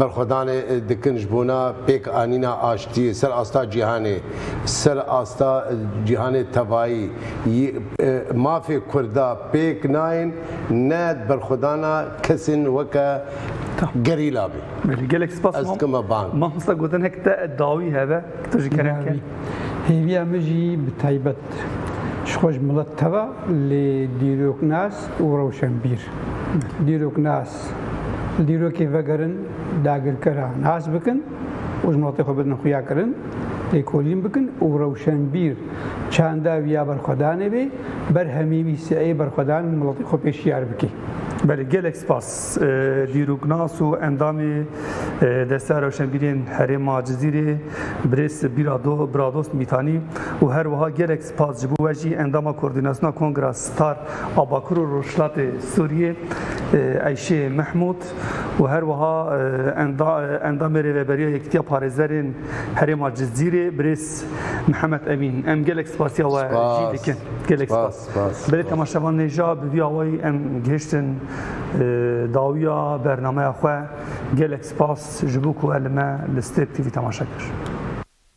berxwedanê dikin ji bona pêkanîna aştiyê ser asta cîhanê, ser asta cîhanê tevayî. Mafê Kurda pêk nayên. ne berxwedana kesên weke gerîla be. Belê gelek spas Ez dikime bang. Mamosta gotinek te dawî hebe ku tu ji kerem ke. Dawî. Hêviya min jî bi taybet ji xwe ji milet teva lê dîroknas û rewşenbîr. Dîroknas, li dîrokê vegerin dagirkeran nas bikin. û ji notê xwe bidin xuyakirin, lêkolîn bikin û rewşenbîr çanda wî ya berxwedanê bê, berhemî wî sieyê berxwedan û miletê xwe pê şiyar bike. Belê gelek spas dîroknas û endamê Desteya Rewşenbîrên Herêma Cizîrê Birêz Biradost Mîtanî û her wiha gelek spas ji bo we jî endama Kordînasyona Kongra Star a Bakur û Rojhilatê Sûriyê Eyşê Mehmûd û her wiha Endamê Rêveberiya Yekîtiya Parêzerên Herêma Cizîrê Birêz Mihemed Emîn, em gelek spasiya we jî dikin. Gelek spas. Belê temaşevan nê ja bi vî awayî em gihiştin dawiya bernameya xwe. Gelek spas ji bo ku e li me li Step TV temaşe kir.